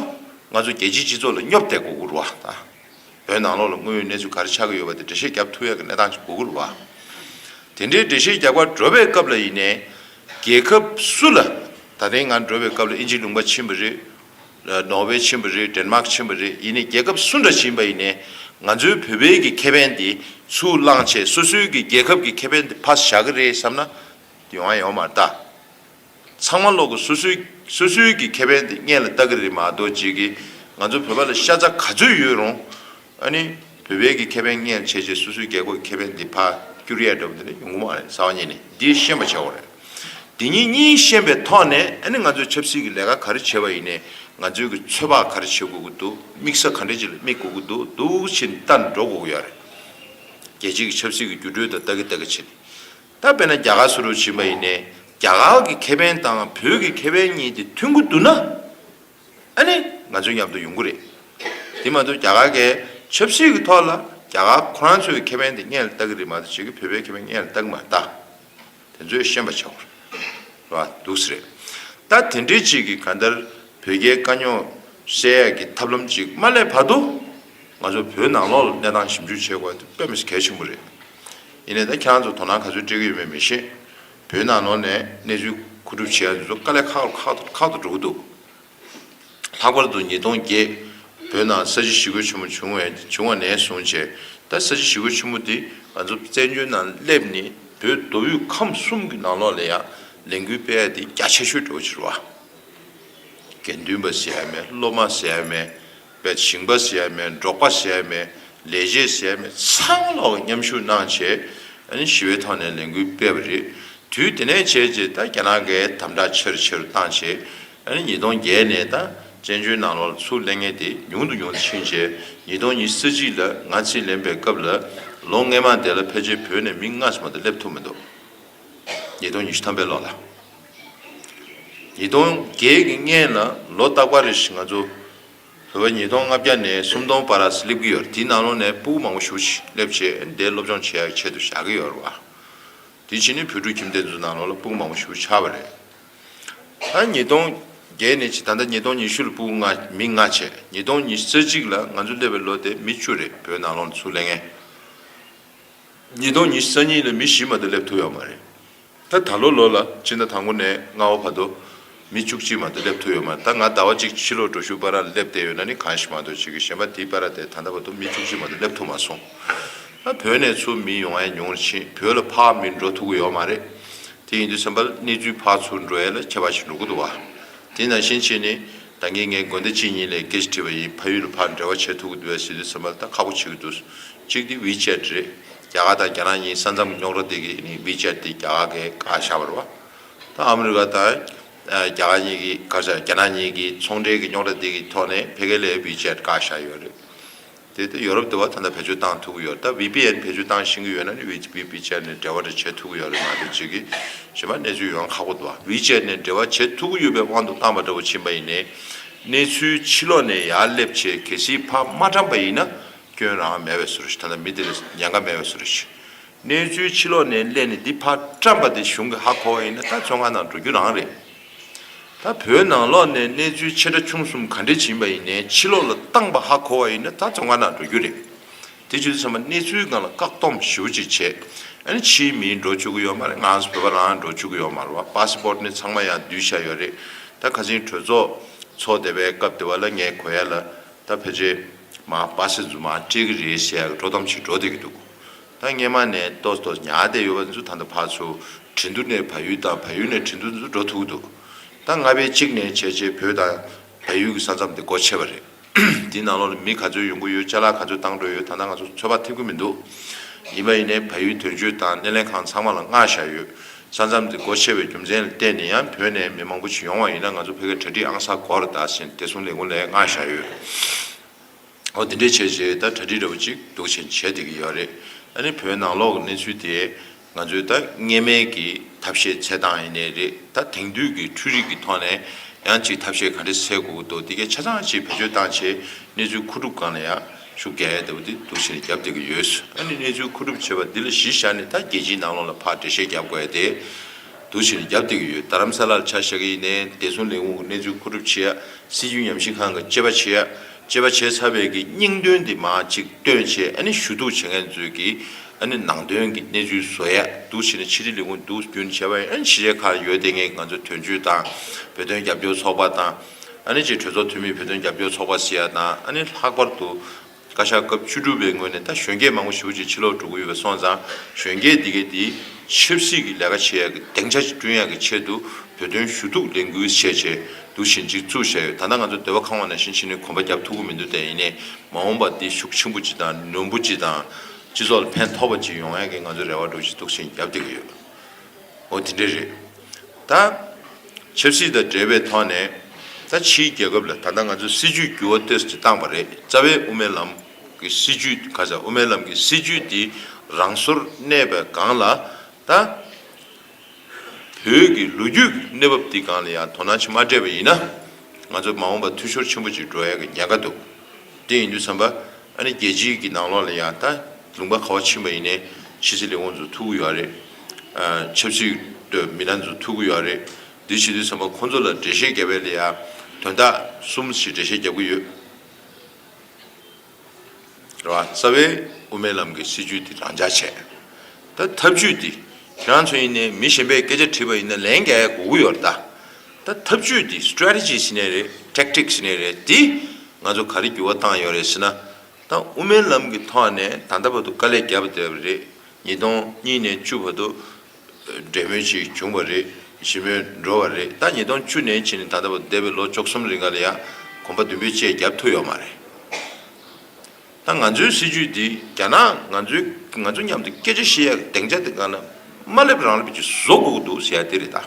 ང་ཚོ་རྒྱལ་སྤྱིའི་སྤྱི་ཚོགས་ལ་སྙོབ་སྟེ་མགོ་སྒུར་བ་དང། བོད་ནང་ལོགས་ལ་དངོས་ཡོད་གནས་ཚུལ་ག་རེ་ཆགས་ཀྱི་ཡོད་པ་དེ་འགྲེལ་བཤད་རྒྱབ་ཐུབ་ཡག་གི་གནས་སྟངས་ཀྱི་མགོ་སྒུར་བ། དེ་འདྲའི་འགྲེལ་བཤད་རྒྱག་པར་འགྲོ་བའི་སྐབས་ལ་ཡིན་ནས། རྒྱལ་ཁབ་སུ་ལ། ད་ལྟའི་ང་འགྲོ་བའི་སྐབས་ལ་ཨིན་ཇི་ལུང་པ་ཕྱིན་པ་རེད། ནོར་ཝེ་ཕྱིན་པ་རེད Denmark ཕྱིན་པ་རེད་ཡིན་ནས་རྒྱལ་ཁབ་སུ་འདྲ་ཕྱིན་པ་ཡིན་ནས། ང་ཚོའི་བོད་བལ་གྱི་ཁེ་ཕན་དེ་ཚུར་བླངས་ཆེད་སོ་སོའི་གི་རྒྱལ་ཁབ་ཀྱི་ཁེ་ཕན་དེ་ཕ་བཞག་གི་རེད་བསམ་ན། དུས་འང་ཡོང་མ་ལྟ། ཚང་མ་ལོག་གི་སོ་སོའི་སོ་སོའི་གི་ཁེ་ཕན་དེ་བརྙན་ལ་ལྟ་གི་རེད་མ་གཏོགས་རྗེས་ཀྱི་ང་ཚོ་བོད་པ་ལ་ཤ་ཚ་ག་ཚོད་ཡོད་རུང་ཨ་ནི་བོད་པའི་གི་ཁེ་ཕན་བརྙན་ལ་བྱས་རྗེས་སོ་སོའི་རྒྱལ་ཁོག་གི་ཁེ་ཕན་དེ་ཕ་སྐྱུར་ཡས་འདྲ་བོ་འདི་ནི་ཡོང་གི་མ་རེད་ས་བ་གཉིས་ནི་འདིའི་ཤན་པ་ཆེ་བོ་རེད། དེ་གཉིས་གཉིས་ཤན་པའི་ཐོག་ནས་ཨ་ནི་ང་ཚོས་ཆབ་སྲིད་གི་ལས་ཀ་ག་རེ་བྱེད་པ་ཡིན་ནས་ང་ཚོའི་གི་ཚོད་དཔག་ག་རེ་བྱེད་དགོས་ཀྱི་འདུག་དམིགས་ས་ག་འདྲེ་ཅིག་ལ་དམིགས་དགོས་ཀྱི་འདུག་འདུག་བྱེད་ནི་ལྟ་ནི་འགྲོ་དགོས་ཀྱི་ཡོད་རེད། རྒྱལ་སྤྱི་གི་ཆབ་སྲིད་གི་འགྱུར་གྲོས་དང་ལྟ་གི་ལྟ་གི་བྱེད་ནི། ད་དཔེར་ན་རྒྱ་གར་སུ་རུ་བྱིན་པ་ཡིན་ནས་རྒྱ་གར་གྱི་ཁེ་ཕན་དང་བོད་ཀྱི་ཁེ་ཕན་གཉིས་དེ་མཐུན་གྱི་འདུག་ན་ཨ་ནི་ང་ཚོའི་མཉམ་དུ་ཡོང་གི་རེད། དེ་མ་གཏོགས་རྒྱ་གར་གས་ཆབ་སྲིད་ཀྱི་ཐོག་ལ་རྒྱ་གར་ཁོ་རང་ཚོའི་ཁེ་ཕན་དེ་གཉེར་བལྟ་གི་རེད་མ་གཏོགས་བྱེས་ཀྱི་བོད་པའི་ཁེ་ཕན་གཉེར་བལྟ་གི་མ་རེད་ད། དེ་ཚོས་ཤེས་པ་བྱ་བར་འདུག་ས་རེད། ད་དེ་འདྲའི་ཅིག་གིས་ག་འདར་བོད་རྒྱའི་དཀའ་རྙོག་སེལ་ཡག་གི་ཐབས་ལམ་ཅིག་མ་སླེབས་བར་དུ། ང་ཚོ་བོད་ནང་ལོགས་ལ་གནས་སྟངས་ཞིབ་འཇུག་བྱེད་དགོས་པ་དེ་དཔེ་མི་སྲིད་གལ་ཆེན་པོ་རེད། ཡིན་ནའི་ད་ཁྱེད་རང་ཚོ་དོ་སྣང་ག་ཚོད་སྤྲད་ཀྱི་ཡོད་མེད་མི་ཤེས། བོད་ནང་ནོར་ནས་གནས་ཚུལ་མཁོ་སྒྲུབ་བྱེད་ཡ་འདི་ཚོ་དཀའ་ལས་ཁག་ཁག་ཏུ་འགྲོ་གི་འདུག། ལྷག་པར་དུ་ཉིས་སྟོང་བརྒྱད་བོད་ནང་ས་བྱི་ཞི་རྒོལ་ཆེན་མོ་བྱུང་བ་ནས་བཟུང་བྱས་ད་ས་བྱི་ཞི་རྒོལ་ཆེན་མོ་འདི་ང་ཚོ་བཙན་བྱོལ་ནང་སླེབས་ནས་བོད་མདོ་དབུས་ཁམས་གསུམ་གྱི་ནང་ལོགས་ལ་ཡང་ལས་འགུལ་སྤེལ་ཡ་འདི་རྒྱ་ཆེ་ཤོས་འགྲོ་བ་ཕྱིར་བ། དགེ་འདུན་པ་ཟེར་ཡ་མེད་སློབ་མ་ཟེར་ཡ་མེད། པའི་ཞིང་པ་ཟས་མེད་འབྲོག་པ་ཟས་མེད་ལས་བྱེད་ཟས་མེད་ཚང་ལ་མཉམ་ཞུགས་གནང་ཆེད་ཞི་བའི་ཐོག་ནས་ལས་འགུལ་སྤེལ་བ་རེད། དུས་དེ་ནས་བྱས་རྗེས་ད་རྒྱ་ནག་གིས་དམ་དྲག་ཆེ་རུ་ཆེ་རུ་བཏང་ཆེད་ཉིས་སྟོང་བརྒྱད་ནས་ད་བཙན་བྱོལ་ནང་ལོག་ཚུགས་གླེང་ངན་དེ་ཉུང་དུ་ཉུང་དུ་ཕྱིན་ཆེད་ཉིས་སྟོང་ཉི་ས་གཅིག་ལ་ང་རྩིས་ལེན་པའི་སྐབས་ལ་ལོ་ལྔའི་མ་དེ་ལ་ཕལ་ཆེར་བོད་ནས་མི་ལྔ་སུ་མ་དང་སླེབས་ཐུབ་མི་འདུག་ཉིས་སྟོང་ཉི་ཤུ་ཐམ་པའི་ལོ་ལ། ཉིས་སྟོང་བརྒྱད་ཀྱི་སྔན་ལ་ལོ་རྟག་པ་རེ་ཞིག་ང་ཚོ་བོད་པ་ཉིས་སྟོང་ལྔ་བརྒྱ་ནས་སུམ་སྟོང་བར་ར་སླེབས་ཀྱི་ཡོད་རེད་དེའི་ནང་ལོགས་ནས་སྤུ་བོ་མང་པོ་ཞུགས་ཆེད་སླེབས་ཆེད་འདས་སློབ་སྦྱོང་བྱེད་ཡག་ཆེད་དུ་བཞག་གི་ཡོད་རེད་བ། དེ་ཕྱིན་ནས་བོད་ཕྲུག་ཁྱིམ་སྡེ་ཚོའི་ནང་ལོགས་ལ་སྤུ་མང་པོ་ཞུགས་ཆགས་པ་རེད། ད་ཉིས་སྟོང་བརྒྱད་ནས་ད་ལྟ་ཉིས་སྟོང་ཉི་ཤུ་ལ་སྤུ་ལྔ་མི་ལྔ་བྱས་ཉིས་སྟོང་ཉི་ས་གཅིག་ལ་ང་ཚོ་སླེབས་པའི་ལོ་དེ་མི་བཅུ་རེད་བོད་ནང་ལོགས་ནས་སུ་སླེབས་ངེས། ཉིས་སྟོང་ཉི་ས་གཉིས་ལ་མི་བཞི་མ་གཏོགས་སླེབས་ཐུབ་ཡག་མ་རེད། ད་ད་ལོ་ལོ་ལ་སྤྱི་ཟླ་དང་པོ་ནས་ལྔ་བ་བར་དུ་མི་བཅུ་གཅིག་མ་གཏོགས་སླེབས་ཐུབ་ཡོད་མ་རེད་ད་ང་ཟླ་བ་གཅིག་ཕྱི་ལོག་འགྲོ་ཞུགས་པ་ར་སླེབས་བསྡད་ཡོད་ན་ནི་གང་ཞིག་མ་གཏོགས་བྱེད་ཀྱི་གཞན་པ་དེའི་པ་ར་དེ་ད་ལྟ་བར་དུ་མི་བཅུ་གཅིག་མ་གཏོགས་སླེབས་ཐུབ་མ་སོང་ཨ་བོད་ནས་ཚུར་མི་ཡོང་ཨེ་མྱོང་ཕྱིན་བོད་ལ་ཕག་མི་འགྲོ་ཐུབ་ཀྱི་ཡོད་མ་རེད་དེ་ཡིན་དུས་སེམས་པ་གནས་ཚུལ་ཕག་ཚུར་འགྲོ་ཡས་ལ་ཁྱད་པ་ཞིག་འགྲོ་གི་འདུག་བ་དེ་ནང་བཞིན་བྱས་ནས། ད་ངས་ངའི་དགོན་སྡེ་གཅིག་གཉིས་ལས་སྐད་ཅིག་བྲིས་པ་ཡིན་ཕ་ཡུལ་ལ་ཕར་འབྲེལ་བ་བྱེད་ཐུབ་ཀྱི་འདུག་བའི་ཟིན་བྲིས་ཚོད་མ་ད་ཁག་པོ་བྱེད་ཀྱི་འདུག་གཅིག་དེ་ཝི་ཅེད་རེད། རྒྱ་གར་དང་རྒྱ་ནག་གཉིས་ས་མཚམས་ཀྱི་རྙོག་དྲ་དེ་གིས་ནི་ཝི་ཅེད་དེ་རྒྱ་གར་གའི་གར་བཞག་བར་བ་དང་ཨ་མི་རི་ཀ་དང་རྒྱ་གར་གཉིས་ཀྱི་གར་བཞག་རྒྱ་ནག་གཉིས་ཀྱི་ཚོང་འབྲེལ་གྱི་རྙོག་དྲ་དེ་གི་ཐོག་ནས་ཕལ་སྐད་ལས་ཝི་ཅེད་གར་བཞག་ཡོད་རེད། དེ་ལྟར་ཡོ་རོབ་དུ་བ་ད་ལྟ་བེད་སྤྱོད་བཏང་ཐུབ་ཀྱི་ཡོད་རེད་ད VPN བེད་སྤྱོད་བཏང་བཞིན་གྱི་ཡོད་ན་ནི VVPchat ནས་འབྲེལ་བ་དེ་བྱེད་ཐུབ་ཀྱི་ཡོད་རེད་མ་གཏོགས་ཇི་གི་ཇི་མ་གནས་ཚུལ་ཡོང་ཁག་པོ་དུ་བ VChat ནས་འབྲེལ་བ་བྱེད་ཐུབ་ཀྱི་ཡོད་པའི་དབང་དུ་བཏང་པ་འདྲ་པོ་ཕྱིན་པ་ཡིན་ནས་གནས་ཚུལ་ཕྱི་ལོགས་ནས་ཡར་སླེབས་བྱས་གལ་སྲིད་ཕ་མ་དྲངས་པ་ཡིན་ན་སྐྱོན་རང་མེད་བས་སུ་རེད་ད་ལྟ་མི་དེ་ལ་ཉེན་ཁ་མེད་བས་སུ་རེད་གནས་ཚུལ་ཕྱི་ལོགས་ནས་སླེབས་ནས་འདི་ཕ་བཀྲམས་པ་དེ་གཞུང་གི་ཧ་གོ་བ་ཡིན་ན་ད་ཚོད་ང་ནང་འགྲོ་རྒྱུ་རང་རེད། ད་བོད་ནང་ལོག་ནས་གནས་ཚུལ་ཆེ་ཕྲ་ཆུང་གསུམ་ག་འདྲེ་བྱིན་པ་ཡིན་ནའི་ཕྱི་ལོག་ལ་བཏང་པ་ཧ་གོ་བ་ཡིན་ན་ད་ཙོང་ཁ་ན་འགྲོ་རྒྱུ་རེད་དེ་བྱུ་ཚ་མ་གནས་ཚུལ་གང་ལ་བཀག་སྡོམ་ཞིའུ་ཅིག་བྱས་ཨ་ནི་ཕྱིའི་མིའི་འགྲོ་ཆུག་གི་ཡོད་མ་རེད་ང་ཚོ་བོད་པ་རང་ཡང་འགྲོ་ཆུག་གི་ཡོད་མ་རེད་བ་པ་སི་པོར་ནི་ཚང་མ་ཡང་བསྡུས་བཞག་ཡོད་རེད་ད་ཁ་ཆེན་གྲོས་ཚོགས་ཚོགས་བསྡད་པའི་སྐབས་དེ་བ་ལ་ངས་གོ་ཡ་ལ་ད་བོད་རྗེས་མ་བ་སི་རྫུན་མ་སྤྲད་གི་རེད་ཞེས་ཡག་གི་འགྲོ་གཏམ་ཞིག་འགྲོ་བསྡད་གི་འདུག་ད་སྔས་མ་ནས་ཏོ་ཏོ་ཉག་སྡེ་ཡོད་པ་འདི་ཚོ་ད་ལྟ་ཕར་ཚུར་བྲི་འདུག་ནས་བལ་ཡུལ་དང་བལ་ཡུལ་ནས་བྲི་འདུག་འདི་ཚོ་འགྲོ་ཐུག་འདུག་ད་སྔ་བས་གཅིག་ནས་བྱས་རྗེས་བོད་དང་བལ་ཡུལ་གྱི་ས་མཚམས་དེ་སྒོ་ཕྱེ་བ་རེད། དེའི་ནང་ལོགས་ལ་མི་ག་ཚོད་ཡོང་གི་ཡོད་ལྕེ་ལ་ག་ཚོད་བཏང་འགྲོ་ཡོད་ད་ལྟ་ང་ཚོ་ཚོད་དཔག་ཐེབས་ཀྱི་མི་འདུག་ཡིན་པ་ཡིན་ནས་བལ་ཡུལ་དོན་གཅོད་དང་སྣེ་ལེན་ཁང་ཚང་མ་ལ་མངགས་བཞག་ཡོད་ས་མཚམས་དེ་སྒོ་ཕྱེ་བའི་རྒྱུ་མཚན་ལ་བལྟས་ནས་ཡང་བོད་ནས་མི་མང་པོ་ཞིག་ཡོང་བ་ཡིན་ན་ང་ཚོ་བོད་སྐད་གྲ་སྒྲིག་ཨང་ས་གོ་ར་དག་བཞིན་བདེ་སྲུང་ལས་ཁུངས་ལས་མངགས་བཞག་ཡོད། འོ་དེ་འདྲས་བྱས་རྗེས་ད་གྲ་སྒྲིག་འདྲ་པོ་ཅིག་སྡུག་ཆེན་བྱས་བསྡད་ཀྱི་ཡོད་རེད། ཨ་ནི་བོད་ནང་ལོག་གི་གནས་ཚུལ་དེ་ང་ཚོའི་ད་གནས་མལ་གྱི་ཐབས་ཤེས་འཚལ་སྟངས་ཡིན་ནི་རེད་ད་དེང་དུས་ཀྱི་འཕྲུལ་རིགས་ཀྱི་ཐོག་ནས་ཡང་ཅིག་ཐབས་ཤེས་ག་འདྲས་འཚལ་དགོས་ཀྱི་འདུག་དེ་གའི་ཆ་ཚང་ཅིག་བེད་སྤྱོད་སྟངས་ཆེད་གནས་ཚུལ་མཁོ་སྒྲུབ་སྒང་ལ་ཡང་ཤུགས་རྒྱག་ཡས་བསྡད་པ་དེ་སྡུག་ཆེན་རྒྱབ་བསྡད་ཀྱི་ཡོད། ཨ་ནི་གནས་ཚུལ་མཁོ་སྒྲུབ་བྱས་པ་འདི་ལ་གཞི་བཞག་ནས་ད་རྒྱལ་སྤྱིའི་ནང་ལོག་ལ་ཕར་འགྲེལ་བཤད་རྒྱབ་དགོས་ཡས་དེ་སྡུག་ཆེན་རྒྱབ་བསྡད་ཀྱི་ཡོད་ད་རམ་ས་ལ་ལ་ཆ་བཞག་གི་ཡིན་ནས་བདེ་སྲུང་ལས་ཁུངས་ཀྱི་གནས་ཚུལ་མཁོ་སྒྲུབ་བྱེད་ཡས་སྲིད་ཇུས་ཉམས་ཞིབ་ཁང་གི་དཔྱད་པ་བྱེད་ཡས། ཅེས་པ་བྱས་ཚར་བའི་གི་སྙིང་དོན་དེ་མ་ཅིག་སྟོན་ཆེད་ཨ་ནི་ཞུ་གཏུག་བྱེད་མཁན་ཚོས་གི་ཨ་ནི་ནང་དོན་གི་གནས་ཚུལ་བཟོ་ཡས་འདུག་བྱས་ནས་ཕྱི་དྲིལ་ལས་ཁུངས་འདུག་རྒྱུན་བྱས་པ་ཡང་ཨ་ནི་ཕྱི་རས་ཁ་ར་ཡོད་དེ་ངས་ང་ཚོའི་དོན་གཅོད་དང་བོད་དོན་རྒྱབ་སྐྱོར་ཚོགས་པ་དང་ཨ་ནི་ཅེས་གྲོས་ཚོགས་འཐུས་མིས་བོད་དོན་རྒྱབ་སྐྱོར་ཚོགས་པ་ཟེར་ཡ་དང་ཨ་ནི་ལྷག་པར་དུ་བཀའ་ཤག་སྐབས་བཅུ་དྲུག་པའི་ངོས་ནས་ད་གཞོན་སྐྱེས་མང་པོ་ཞི་བོ་ཅིག་ཕྱི་ལོག་འགྲོ་གི་ཡོད་པ་སོང་ཙང་གཞོན་སྐྱེས་འདི་གའི་དེ་ཆབ་སྲིད་ཀྱི་ལས་ཀ་བྱེད་ཡས་གི་སྡིངས་ཆ་བསྐྲུན་ཡས་གི་ཆེད་དུ་བོད་དོན་ཞུ་གཏུག་ལས་འགུལ་བྱས་བྱས་འདུ་བཞིན་སྒྲིག་འཛུགས་བྱས་ཡོད་ད་ལྟ་ང་ཚོ་སྡེ་བ་ཁང་བ་ནང་བཞིན་ཕྱི་ནས་གོམ་པ་བརྒྱབ་ཐུབ་ཀྱི་མི་འདུག་དེ་ཡིན་ནའི་མ་འོངས་པར་འདི་ཤུགས་ཆེན་པོ་ཅི་དང་ནོན་པོ་ཅི་དང་སྤྱི་ཚོགས་ལ་ཕན་ཐོགས་པ་ཅི་ཡོང་ཡག་གི་ང་ཚོའི་རེ་བ་སྒྲོག་བཞིན་འདུག་ཆེན་རྒྱབ་འདེད་ཀྱི་ཡོད། ཨོ་དེ་འདྲས་རེད། ད། ཆབ་སྲིད་དང་འབྲེལ་བའི་ཐོག་ནས། ད་ཕྱིའི་རྒྱལ་ཁབ་ལ་ད་ལྟ་ང་ཚོས་སྲིད་ཇུས་འགྱུར་བ་གཏོད་ཅི་བཏང་བ་རེད་རྩ་བའི་དབུ་མའི་ལམ་གྱི་སྲིད་ཇུས་ག་ས་དབུ་མའི་ལམ་གྱི་སྲིད་ཇུས་འདི་རང་སོར་གནས་པའི་སྒང་ལ་ད། བོད་ཀྱི་ལོ་རྒྱུས་ཀྱི་གནས་བབ་འདི་གང་ལ་ཡང་དོ་སྣང་བྱེད་མ་སྤྲད་པ་ཡིན་ན། ང་ཚོ་མ་འོངས་པར་འཐུས་ཤོར་ཆེན་པོ་ཅིག་འགྲོ་ཡག་གི་ཉེན་ཁ་འདུག་དེ་ཡིན་དུས་བསམ་པ། ཨ་ནི་རྒྱལ་སྤྱིའི་གི་ནང་ལོགས་ལ་ཡང་ད་ལུང་པ་ཁ་བ་ཕྱིན་པ་ཡིན་ནའི་ཕྱི་ཚེ་ལས་ཁོང་ཚོ་ཐུག་གི་ཡོད་རེད། ཆབ་སྲིད་དུ་མི་སྣ་ཚོ་ཐུག་གི་ཡོད་རེད། འདི་བྱེད་དུས་བསམ་པ་ཁོང་ཚོ་ལ་འགྲེལ་བཤད་རྒྱབ་པའི་ལ་ཡང་དོན་དག་གསུམ་ཞིག་འགྲེལ་བཤད་རྒྱབ་གི་ཡོད། རེད། རྩ་བའི་དབུ་མའི་ལམ་གྱི་སྲིད་བྱུས་དེ་རང་འཇགས་བྱས། ད་ཐབས་བྱུས་འདི་ཁྱེད་རང་ཚོ་ཡིན་ནའི་མི་གཞན་པས་སྐད་ཆ་དྲིས་པ་ཡིན་ན་ལན་འགའི་གོ་གི་ཡོད་རེད་ད། ད་ཐབས་བྱུས་འདི Strategy ཞེས་ནས་རེད Tactic ཞེས་ནས་རེད་དེ་ང་ཚོ་ག་རེ་འགྱུར་བ་བཏང་ཡོད་རེད་ཟེར་ན། ད་དབུ་མའི་ལམ་གྱི་ཐོག་ནས་ད་ལྟ་བར་དུ་དཀའ་ལས་རྒྱབ་བསྡད་པ་རེད་ཉིས་སྟོང་གཉིས་ནས་བཅུ་བར་དུ་འབྲེལ་མོལ་ཞིག་བྱུང་བ་རེད་ཞི་མོལ་འགྲོ་བ་རེད་ད་ཉིས་སྟོང་བཅུ་ནས་ཕྱི་ནས་ད་ལྟ་བ་འདས་པའི་ལོ་བཅོ་གསུམ་རིང་ག་ལ་ཡག་གོམ་པ་མདུན་སྤོས་བཅས་རྒྱབ་ཐུབ་ཡོག་མ་རེད་ད་ང་ཚོའི་སྲིད་ཇུས་འདི་རྒྱ་ནག་ང་ཚོའི་ང་ཚོ་མཉམ་དུ་སྐད་ཆ་བཤད་ཡག་གི་གདེང་ཆ་དེ་ག་ན་མ་སླེབས་རང་སླེབས་ཀྱི་བཟོ་དགོས་འདུག་ཟེར་ཡག་དེ་རེད་ད་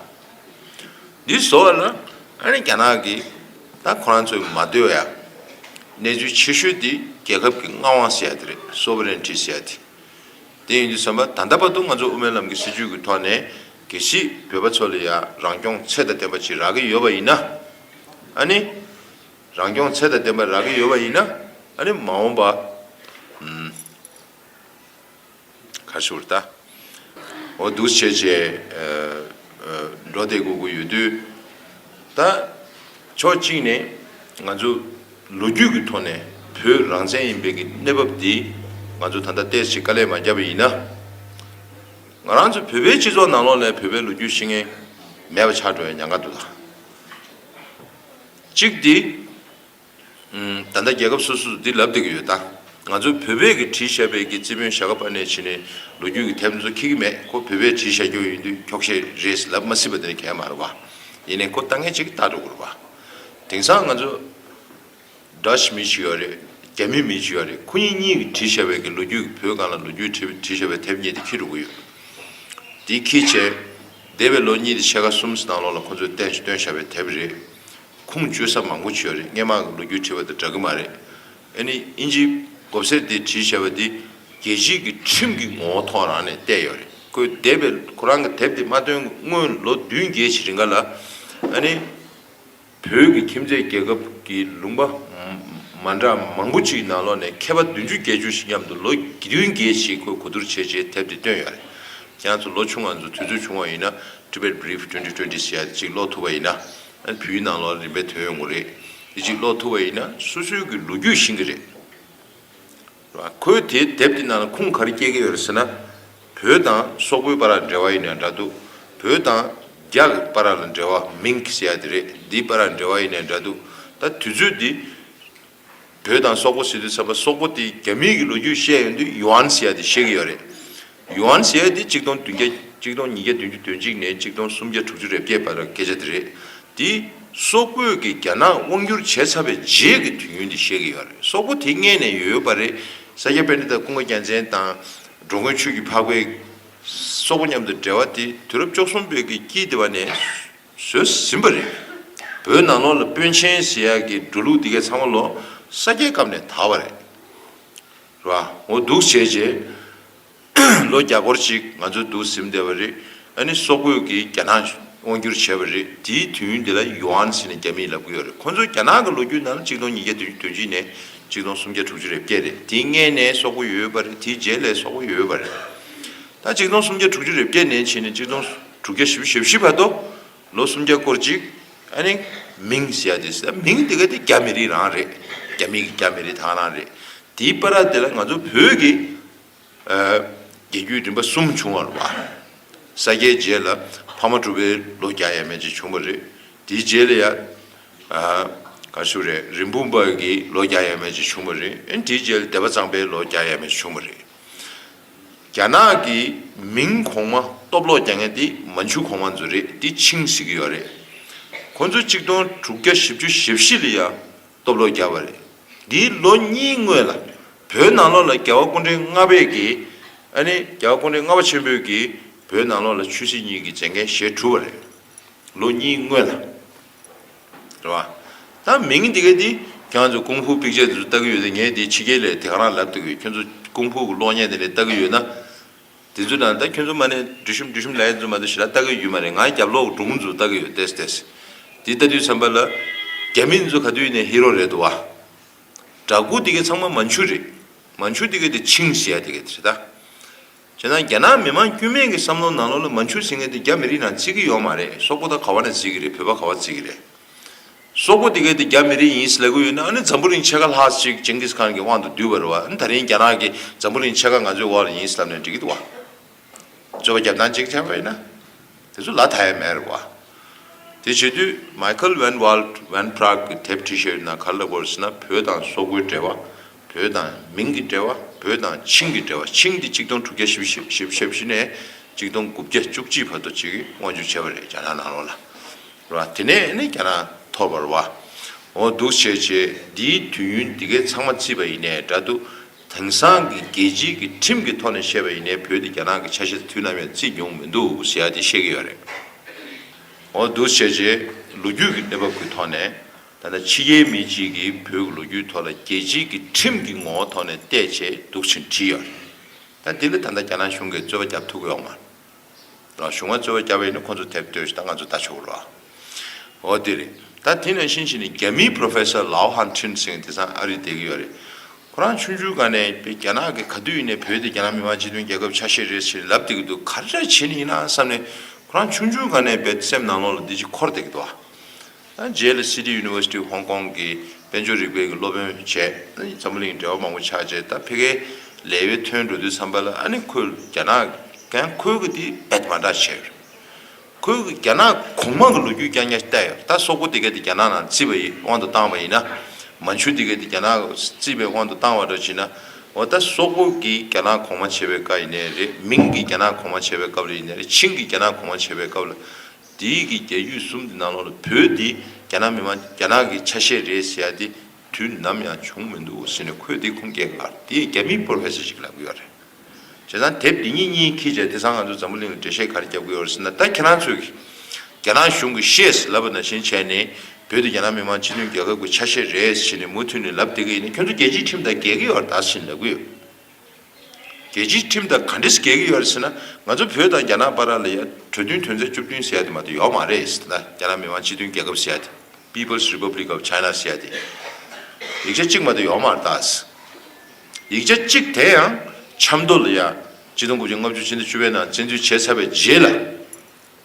འདི་བཟོ་བ་ན་ཨ་ནི་རྒྱ་ནག་གི་ད་ཁོ་རང་ཚོའི་མ་སྡོད་ཡག་གནས་ཚུལ་ཆེ་ཤོས་འདི་རྒྱལ་ཁབ་ཀྱི་མངའ་དབང་ཟེར་ཡག་དེ་རེད་སོ་བེ་རེན་ཁྲི་ཟེར་ཡག་དེ། དེ་ཡིན་དུས་བསམ་པ་ད་ལྟ་བར་དུ་ང་ཚོ་དབུ་མའི་ལམ་གྱི་སྲིད་བྱུས་ཀྱི་ཐོག་ནས་དགེ་བཤེས་བོད་པ་ཚོ་ལ་ཡང་རང་སྐྱོང་ཚད་དང་ལྡན་པ་ཅིག་རག་གི་ཡོད་པ་ཡིན་ན་ཨ་ནི། རང་སྐྱོང་ཚད་དང་ལྡན་པ་རག་གི་ཡོད་པ་ཡིན་ན་ཨ་ནི་མ་འོངས་པ་གར་ཞུགས་ར་ད་འོ་འདུག་བྱས་བྱས་འགྲོ་བསྡད་དགོས་ཀྱི་ཡོད་དུས་ད། ཕྱོགས་གཅིག་ནས་ང་ཚོ་ལོ་རྒྱུས་ཀྱི་ཐོག་ནས་བོད་རང་བཙན་ཡིན་པའི་གི་གནས་བབ་འདི་ང་ཚོ་ད་ལྟ་སྟེར་ཆེད་དཀའ་ལས་མ་བརྒྱབ་པ་ཡིན་ན། ང་རང་ཚོ་བོད་པའི་སྤྱི་ཚོགས་ནང་ལོགས་ནས་བོད་པའི་ལོ་རྒྱུས་ཤེས་མཁན་མེད་པ་ཆགས་འགྲོ་བའི་ཉང་ཁ་འདུག་ལ། གཅིག་དེ། ད་ལྟ་རྒྱལ་ཁབ་སོ་སོ་དུ་འདི་ལབ་བསྡད་ཀྱི་ཡོད་ད། ང་ཚོའི་བོད་པས་ཀྱི་བྲིས་ཞབས་པད་ཀྱི་རྩིས་དཔོན་ཞྭ་ཁ་པ་ནས་བྱིན་ནས་ལོ་རྒྱུས་ཀྱི་ཐེབས་མཚོ་ཁྱི་གི་མེད་ཁོ་བོད་པས་བྲིས་ཞྭ་ཁྱོ་ཡིན་དུས་ཁྱོག་བཤད་རེས་ལབ་མ་སྲིད་པ་དེ་གལ་མ་རེད་བ། ཡིན་ནས་ཁོ་ལྟ་ངན་ཅིག་ལྟ་འགྲོ་དགོས་རེད་བ། དེང་སང་ང་ཚོ Dutch མི་བྱི་བ་རེད་རྒྱ་མི་མི་བྱི་བ་རེད་ཁོ་གཉིས་གཉིས་ཀྱི་བྲིས་ཞྭ་བད་ཀྱི་ལོ་རྒྱུས་ཀྱི་བོད་གང་ལ་ལོ་རྒྱུས་བྲིས་བྲིས་ཞྭ་བད་ཐེབས་རྙེད་དེ་ཁྱི་འགྲོ་གི་ཡོད། དེ་ཁྱི་བྱས། འདས་པའི་ལོ་གཉིས་དེ་ཕྱེད་ཀ་གསུམ་གྱི་ནང་ལོག་ལ་ཁོ་ཚོས་བསྟན་བསྟོན་ཞྭ་བད་ཐེབས་རེད། ཁུངས་བཅོལ་ས་མང་པོ་བྱོས་རེད་སྔན་མ་གི་ལོ་རྒྱུས་བྲིས་པ་དང་འདྲ་གི་མ་རེད་ཨེ་ནི་ཨིན་ཇིའི་གོབ་སེར་དེ་བྲིས་བྱས་པ་དེ་རྒྱལ་སྤྱིས་ཀྱི་ཁྲིམས་ཀྱི་ངོ་བོ་ཐོག་རང་ནས་བལྟས་ཡོད་རེད་ཁོའི་དེབ་པའི་ཁོ་རང་གི་དེབ་དེ་མ་ཐོན་གི་སྔོན་ལོ་བདུན་བརྒྱད་ཕྱི་རིང་ག་ལ་ཨེ་ནི་བོད་ཀྱི་ཁྱིམ་མཚེས་རྒྱལ་ཁབ་ཀྱི་ལུང་པ་མ་འདྲ་མང་པོ་ཅིག་ནང་ལོག་ནས་མཁས་པ་བདུན་ཅུ་བརྒྱད་ཅུ་ཞིག་མཉམ་དུ་ལོ་བདུན་བརྒྱད་ཕྱིས་ཁོས་གོ་བསྡུར་བྱས་རྗེས་དེབ་དེ་བཏོན་ཡོད་རེད་རྒྱ་མཚོ་ལོ་ཆུང་ང་ཚོ་དུས་ཚོད་ཆུང་བ་ཡིན་ན Tibet Brief Twenty Twenty ཟེར་ཡ་དེ་ཅིག་ཀློག་ཐུབ་པ་ཡིན་ན་བུའི་ནང་ལོགས་ལ་རིམ་པས་དོན་ཡོང་གི་རེད། དེ་གཅིག་ཀློག་ཐུབ་པ་ཡིན་ན་སོ་སོའི་གི་ལོ་རྒྱུས་ཤེས་གི་རེད། རེད་བ། ཁོས་དེ་དེབ་དེ་ནང་ལ་ཁུངས་ག་རེ་བསྐྱལ་གི་ཡོད་རེད་ཟེར་ན། བོད་དང་སོག་པོའི་པ་ར་འབྲེལ་བ་ཡིན་ན་འདྲ་འདུག་བོད་དང། རྒྱ་གི་པ་ར་ལ་འབྲེལ་བ་མིང་གི་ཟེར་ཡ་དེ་རེད་འདིའི་པ་ར་འབྲེལ་བ་ཡིན་ན་འདྲ་འདུག་ད་དུས་ཚོད་འདི། བོད་དང་སོག་པོ་སི་དུས་ཚབ་པ་སོག་པོ་དེ་རྒྱ་མི་གི་ལོ་རྒྱུས་བཤད་ཡོང་དུས་ཡུ་ཨན་ཟེར་ཡ་དེ་ཤེས་གི་ཡོད་རེད་ཡུ་ཨན་ཟེར་ཡ་དེ་གཅིག་སྟོང་བདུན་བརྒྱ་གཅིག་སྟོང་ཉིས་བརྒྱ་བདུན་ཅུ་དོན་གཅིག་ནས་གཅིག་སྟོང་སུམ་བརྒྱ་དྲུག་ཅུ་རེ་བརྒྱད་བར་སྐད་ཆ་དེ་རེད་དེ་སོག་པོས་གི་རྒྱ་ནག་དབང་བསྒྱུར་བྱས་ཚར་བའི་རྗེས་གི་དུས་ཡུན་དེ་ཤེས་གི་ཡོད་རེད་སོག་པོ་དེ་མངལ་ནས་ཡོད་ཡོད་པ་རེད་ས་སྐྱ་པཎྜི་ཏཱ་ཀུན་དགའ་རྒྱལ་མཚན་དང་འགྲོ་མགོན་ཆོས་ཀྱི་འཕགས་པའི་སོག་པོ་མཉམ་དུ་འབྲེལ་བ་དེ་དུས་རབས་བཅོ་གསུམ་བོད་ཀྱི་དཀྱིལ་དེ་བ་ནས། བཟོས་ཟིན་པ་རེད། བོད་ནང་ལོགས་ལ་དཔོན་ཆེན་ཟེར་ཡག་གི་འགྲོ་ལུགས་འདི་གའི་ཚང་མ་ལོ་ས་སྐྱའི་སྐབས་ནས་དར་བ་རེད། རེད་བ། ངོ་སྡུག་བྱས་རྗེས་ལོ་བརྒྱ་སྐོར་ཅིག་ང་ཚོ་འདུག་ཟིན་བསྡད་པ་རེད། ཨ་ནི་སོག་པོས་ཀྱིས་རྒྱ་ནག་དབང་བསྒྱུར་བྱས་པ་རེད། དེའི་དུས་འདི་ལ Yuan ཟེར་ནས་རྒྱ་མིས་ལབ་གི་ཡོད་རེད། ཁོང་ཚོ་རྒྱ་ནག་གི་ལོ་རྒྱུས་ནང་གཅིག་སྟོང་ཉིས་བརྒྱ་དུས་དོན་གཅིག་ནས་གཅིག་སྟོང་སུམ་བརྒྱ་དྲུག་ཅུ་རེ་བརྒྱད་རེད། དེའི་སྔན་ནས་སོག་པོ་ཡོད་པ་རེད་དེའི་རྗེས་ལས་སོག་པོ་ཡོད་པ་རེད། ད་གཅིག་སྟོང་སུམ་བརྒྱ་དྲུག་ཅུ་རེ་བརྒྱད་ནས་ཕྱིན་ནས་གཅིག་སྟོང། དྲུག་བརྒྱ་ཞེ་བཞི་ཞེ་བཞི་བར་དུ་ལོ་སུམ་བརྒྱ་སྐོར་ཅིག་ཨ་ནི་མིང་ཞེས་བྱ་སྟེ་མིང་དེ་ག་དེ་རྒྱ་མི་རིགས་རང་རེད་རྒྱ་མི་རྒྱ་མི་རིགས་དག་རང་རེད་དེའི་པ་ར་དེ་ལ་ང་ཚོ་བོད་ཀྱི་རྒྱལ་རྒྱུད་རིམ་པ་གསུམ་བྱུང་བར་བ་ས་སྐྱའི་རྗེས་ལ་ཕ་མ་གྲུ་པའི་ལོ་བརྒྱ་ཡས་མས་ཅིག་བྱུང་བ་རེད་དེའི་རྗེས་ལ་ཡ་ག་ཞུ་རེད་རིན་སྤུངས་པ་ཀྱི་ལོ་བརྒྱ་ཡས་མས་ཅིག་བྱུང་བ་རེད་དེའི་རྗེས་ལ་སྡེ་པ་གཙང་པའི་ལོ་བརྒྱ་ཡས་མས་ཅིག་བྱུང་བ་རེད། རྒྱ་ནག་གི་མིང་གོང་མ་སྟོབས་ལོག་རྒྱ་ངན་དེ་མ་འཇུ་གོང་མ་འཛུ་རེད་དེ་ཆིང་བཟི་གི་ཡོད་རེད་ཁོ་ཚོ་གཅིག་སྟོང་དྲུག་བརྒྱ་བཞི་བཅུ་བཞི་བཞི་ལ་ཡ་སྟོབས་ལོག་རྒྱབ་པ་རེད་འདིའི་ལོ་གཉིས་སྔོན་ལ་བོད་ནང་ལོག་ལ་རྒྱལ་བ་སྐུ་འདྲེན་ལྔ་བས་ཀྱི་ཨ་ནི་རྒྱལ་བ་སྐུ་འདྲེན་ལྔ་བ་ཆེན་པོས་ཀྱི་བོད་ནང་ལོག་ལ་ཆོས་སྲིད་གཉིས་ཀྱི་མཛད་འགན་བཞེས་གྲུབ་པ་རེད་ལོ་གཉིས་སྔོན་ལ། རེད་བ། ད་མི་ངན་དེ་ག་དེ་གྱང་ཚོ་ཀུང་ཧྥུའུ་པིག་ཅེ་དེ་ཚོ་ལྟ་གི་ཡོད་ད་ངས་དེ་ཕྱི་རྒྱལ་ལས་དེ་ག་རང་ལབ་ཐུབ་ཡོད་ཁྱོད་ཚོ་ཀུང་ཧྥུའུ་གི་གློག་བརྙན་དེ་འདྲ་ལྟ་གི་ཡོད་ན། དེ་ཚོ་དང་ད་ཁྱོད་ཚོ་མ་ནས་འབྲུ་ཤུམ་འབྲུ་ཤུམ་ལ་ཡེ་ཚོ་མ་ཚོ་ཞི་ལ་ལྟ་གི་ཡོད་མ་རེད་ང་རྒྱབ་ལོག་གི་འབྲུ་ཁུང་ཚོ་ལྟ་གི་ཡོད་ཏེས་ཏེས། དེ་ལྟ་དུས་ཚན་པ་ལ། རྒྱ་མི་འདི་ཚོ་ག་དུས་ནས་ཧི་རོ་རེད་དུ་བ། དྲ་གུ་དེ་ག་ཚང་མ་མ་མཆུ་རེད་མ་མཆུ་དེ་ག་དེ་ཆིངས་ཞེ་ཡ་དེ་ག་དེ་རེད་ད། བྱས་ན་རྒྱ་ནག་མི་མང་དཀྱུས་མས་ཀྱི་བསམ་བློ་ནང་ལོག་ལ་མ་འཕྱུར་ཟིན་མཁན་དེ་རྒྱ་མི་རིགས་ནང་བརྩི་གི་ཡོག་མ་རེད་སོག་པོ་ད་ག་བ་ན་བརྩི་གི་རེད་བོད་པ་ག་བ་བརྩི་གི་རེད། སོག་པོ་དེ་གས་དེ་རྒྱ་མི་རིགས་ཡིན་ཟླ་གི་ཡོད་ན་ཨ་ནི་འཛམ་བུ་རིང་ཕྱེད་ཀ་ལྷག་ཅིག་ཅིང་ཀིས་ཁཱན་གྱི་དབང་དུ་བསྡུས་པ་རེད་བ་ཨ་ནི་ད་རིང་རྒྱ་ནག་གི་འཛམ་བུ་རིང་ཕྱེད་ཀ་ང་ཚོའི་འོག་ལ་ཡིན་ཟླབས་ནས་འགྲིག་གི་འདུག་བ། རྩོད་པ་རྒྱབ་སྟངས་གཅིག་ཐལ་བ་ཡིན་ན་དེ་ཚོ་ལ་ད་ཡས་མེད་རེད་བ། དེ་བྱེད་དུས Michael Van Walt Van Prague གི་དེབ T-shirt ནང་གར་ལབ་དགོས་རེད་ཟེར་ན་བོད་དང་སོག་པོའི་འབྲེལ་བ་བོད་དང་མིང་གི་འབྲེལ་བ་བོད་དང་ཆིང་གི་འབྲེལ་བ་ཆིང་དེ་གཅིག་སྟོང་དྲུག་བརྒྱ་བཞི་བཞི་བཞི་བཞི་བཞི་ནས་གཅིག་སྟོང་དགུ་བརྒྱ་བཅུ་གཅིག་བར་དུ་བྱེད་ཀྱིས་དབང་བསྒྱུར་བྱས་པ་རེད་རྒྱ་ནག་ནང་ལོགས་ལ། རེད་བ། དེ་ནས་ནི་རྒྱ་ནག་ཐོར་བར་བ། འོ་འདུག་བྱས་བྱས་འདིའི་དུས་ཡུན་འདི་གའི་ཚང་མ་བརྩིས་པ་ཡིན་ནའི་འདྲ་འདུག་དེང་སང་གི་རྒྱལ་སྤྱིའི་གི་ཁྲིམས་ཀྱི་ཐོག་ནས་བཤད་པ་ཡིན་ནའི་བོད་དེ་རྒྱ་ནག་གི་ཆ་ཤས་དུས་ནམ་ཡང་བརྩིས་མྱོང་མི་འདུག་ཟེར་ཡ་དེ་བཤད་ཀྱི་ཡོད་རེད། འོ་འདུག་བྱས་བྱས་ལོ་རྒྱུས་ཀྱི་གནས་བབ་ཀྱི་ཐོག་ནས་ཐ་ན་ཕྱི་རྒྱལ་མི་གཅིག་གིས་བོད་ཀྱི་ལོ་རྒྱུས་ཐོག་ལ་རྒྱལ་སྤྱིའི་གི་ཁྲིམས་ཀྱི་ངོ་བོ་ཐོག་ནས་བལྟས་བྱས་སྡུག་ཕྱིན་བྲིས་ཡོད་རེད། ད་འདི་ལ་ད་ལྟ་རྒྱ་ནག་གཞུང་གིས་རྩོད་པ་བརྒྱབ་ཐུབ་གི་ཡོག་མ་རེད། གཞུང་བ་རྩོད་པ་བརྒྱབ་པ་ཡིན་ན་ཁོ་ཚོ་དེབ་ལྟོས་ཤིག་ད་ང་ཚོ་ལྟ་ཆོག་གི་རོགས། འོ་དེ་རེད། ད་དེ་ནས་ཤིན་ཤིན་ནས་རྒྱ་མིའི Professor Lao Han Chin ཟེར་མཁན་དེ་སང་ཨ་རིར་བསྡད་གི་ཡོད་རེད། ཁོ་རང་ཆུང་ཆུང་ག་ནས་དཔེ་རྒྱ་ནག་གི་ག་དུས་ཡིན་ནས་བོད་དེ་རྒྱ་ནག་མི་དམངས་སྤྱི་མཐུན་རྒྱལ་ཁབ་ཆགས་ཤེས་རེད་ཟེར་ལབ་བསྡད་གི་འདུག་ག་རེ་བྱས་ནས་ཡིན་ན་བསམ་ནས་ཁོ་རང་ཆུང་ཆུང་ག་ནས་བོད་སེམས་ནང་ལོག་ལ་འདི་ཅིག་འཁོར་བསྡད་གི་འདུག་ཨ། རྗེས་ལ City University Hong Kong གི་དཔལ་འབྱོར་རིག་པའི་གི་སློབ་དཔོན་བྱས། འཛམ་བུ་གླིང་འབྲེལ་བ་མང་པོ་ཆགས་རྗེས་ད་ཕེ་ཁའི་ལས་བའི་ཐོན་འགྲོ་དུས་བསམ་པ་ལ་ཨ་ནི་ཁོས་རྒྱ་ནག་གན་ཁོལ་གི་དེ་བེད་མ་འདྲ་བྱས་ཡོད། ཁོས་གི་རྒྱ་ནག་གོང་མ་གི་ལོ་རྒྱུས་ཀྱང་ཀྱང་བལྟས་ཡོད་ད་སོག་པོ་དེ་གའི་དེ་རྒྱ་ནག་ནང་བརྩིས་པ་ཡི་དབང་དུ་བཏང་བ་ཡིན་ན། མན་ཆུ་དེ་གའི་དེ་རྒྱ་ནག་བརྩིས་པའི་དབང་དུ་བཏང་བ་འདྲ་བྱས་ན། འོ་ད་སོག་པོ་གི་རྒྱ་ནག་གོང་མ་བྱས་པའི་བཀའ་ཡི་ནས་རེད་མིང་གི་རྒྱ་ནག་གོང་མ་བྱས་པའི་སྐབས་ལ་ཡི་ནས་རེད་ཆིང་གི་རྒྱ་ནག་གོང་མ་བྱས་པའི་སྐབས་ལ། དེ་ཡིག་གི་རྒྱ་ཡུལ་གསུམ་དེ་ནང་ལོགས་ལ་བོད་འདི་རྒྱ་ནག་མི་དམངས་ཀྱི་རྒྱ་ནག་གི་ཆ་ཤས་རེད་ཟེར་ཡ་དེ་དུས་ནམ་ཡང་བྱུང་མི་འདུག་ཟེར་ནས་ཁོས་དེ་ཁུངས་སྐྱེལ་ཁར་དེ་རྒྱ་མིའི་པོར་ཧེ་སེ་ཞིག་ལབ་གི་ཡོད་རེད། བྱས་ཙང་དེབ་འདི་གཉིས་གཉིས་ཁྱེད་ཅག་དེ་སང་ང་ཚོ་འཛམ་བུ་གླིང་ལ་འགྲེལ་བཤད་ག་རེ་རྒྱབ་གི་ཡོད་རེད་ཟེར་ན་ད་ཁྱེད་རང་ཚོས་རྒྱ་ནག་གཞུང་གི་ཤེས་ལབ་པ་ནང་བཞིན་བྱས་ནས་བོད་འདི་རྒྱ་ནག་མི་དམངས་སྤྱི་མཐུན་རྒྱལ་ཁབ་གི་ཆ་ཤས་རེད་ཟེར་ནས་མུ་མཐུད་ནས་ལབ་བསྡད་གི་ཡིན་ན་ཁྱོད་ཚོ་རྒྱལ་སྤྱིའི་ཁྲིམས་དང་འགལ་གི་ཡོད་རེད་ཟེར་ནས་ལབ་གི་ཡོད། རྒྱལ་སྤྱིའི་ཁྲིམས་དང་ག་འདྲི་ཞིག་འགལ་གྱི་ཡོད་རེད་ཟེར་ན་ང་ཚོ་བོད་དང་རྒྱ་ནག་བར་ར་ལ་ཡ་གྲོས་མཐུན་དོན་ཚན་བཅུ་བདུན་ཟེར་ཡ་དེ་མ་གཏོགས་ཡོད་མ་རེད་ཟེར་ན་རྒྱ་ནག་མི་དམངས་སྤྱི་མཐུན་རྒྱལ་ཁབ་ཟེར་ཡ་དེ People's Republic of China ཟེར་ཡ་དེ་ཡིག་ཆ་གཅིག་མ་གཏོགས་ཡོད་མ་རེད་ད་ཟེར། ཡིག་ཆ་གཅིག་དེ་ཡང་ཆབ་མདོ་ལ་ཡ་སྤྱི་སྟོང་དགུ་བརྒྱ་ལྔ་བཅུ་ཕྱི་ཟླ་བཅུ་བའི་ནང་བཙན་འཛུལ་བྱས་ཚར་བའི་རྗེས་ལ་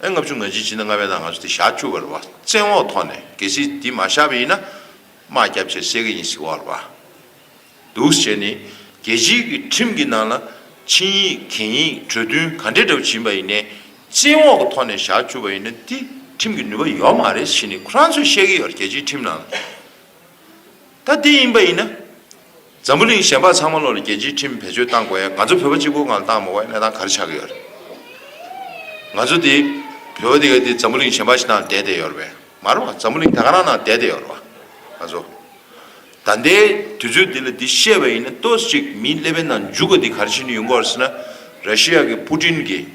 ཨེ་ལྔ་བཅུ་ང་བཞི་ཕྱི་ཟླ་ལྔ་བའི་ནང་ང་ཚོ་དེ་བཞག་བཅུག་པ་རེད་བ་བཙན་འོག་ཐོག་ནས་གལ་སྲིད་དེ་མ་བཞག་པ་ཡིན་ན་དམག་བརྒྱབ་བྱས་བསད་གི་ཡིན་ཟེར་བ་རེད་བ། འདུག་ཟེར་ནས་རྒྱལ་སྤྱིའི་གི་ཁྲིམས་ཀྱི་ནང་ལ་ཆིངས་ཡིག་གན་ཡིག་གྲོས་མཐུན་ག་འདྲས་འགྲབ་བཞིན་པ་ཡིན་ནས་བཙན་འོག་གི་ཐོག་ནས་བཞག་འཁྱུར་བ་ཡིན་ན་དེ་ཁྲིམས་ཀྱི་ནུས་པ་ཡོད་མ་རེད་ཞེས་ནས་ཁོ་རང་ཚོས་བཤད་གི་ཡོད་རྒྱལ་སྤྱིའི་ཁྲིམས་ནང་ལ་ད་དེ་ཡིན་པ་ཡིན་ན་འཛམ་བུ་གླིང་གཞན་པ་ཚང་མ་ལོག་ལ་རྒྱལ་སྤྱིའི་ཁྲིམས་བེད་སྤྱོད་བཏང་དགོས་ཡ་ང་ཚོ་བོད་པ་གཅིག་པོ་ངང་ལ་བཏང་མི་དགོས་གནས་སྟངས་ག་རེ་ཆགས་གི་ཡོད་རེད་ང་ཚོ་དེ་བོད་པ་དེ་ག་དེ་འཛམ་བུ་གླིང་གཞན་པ་ཞིག་ནང་བསྡད་བསྡད་ཡོད་རེད་མ་རེད་བ་འཛམ་བུ་གླིང་ད་ག་རང་ནང་བསྡད་བསྡད་ཡོད་རེད་བ་ང་ཚོ། ད་ལྟའི་དུས་ཚོད་འདི་ལ་འདི་བཤད་པ་ཡིན་ན་ལྟོས་ཅིག་མིའི་ཀླད་པའི་ནང་འཇུག་པ་འདི་ག་རེ་བྱེད་ནུས་ཡོང་གོ་ཟེར་ན། ར་ཤི་ཡ་གི་པུ་ཏིན་གྱིས་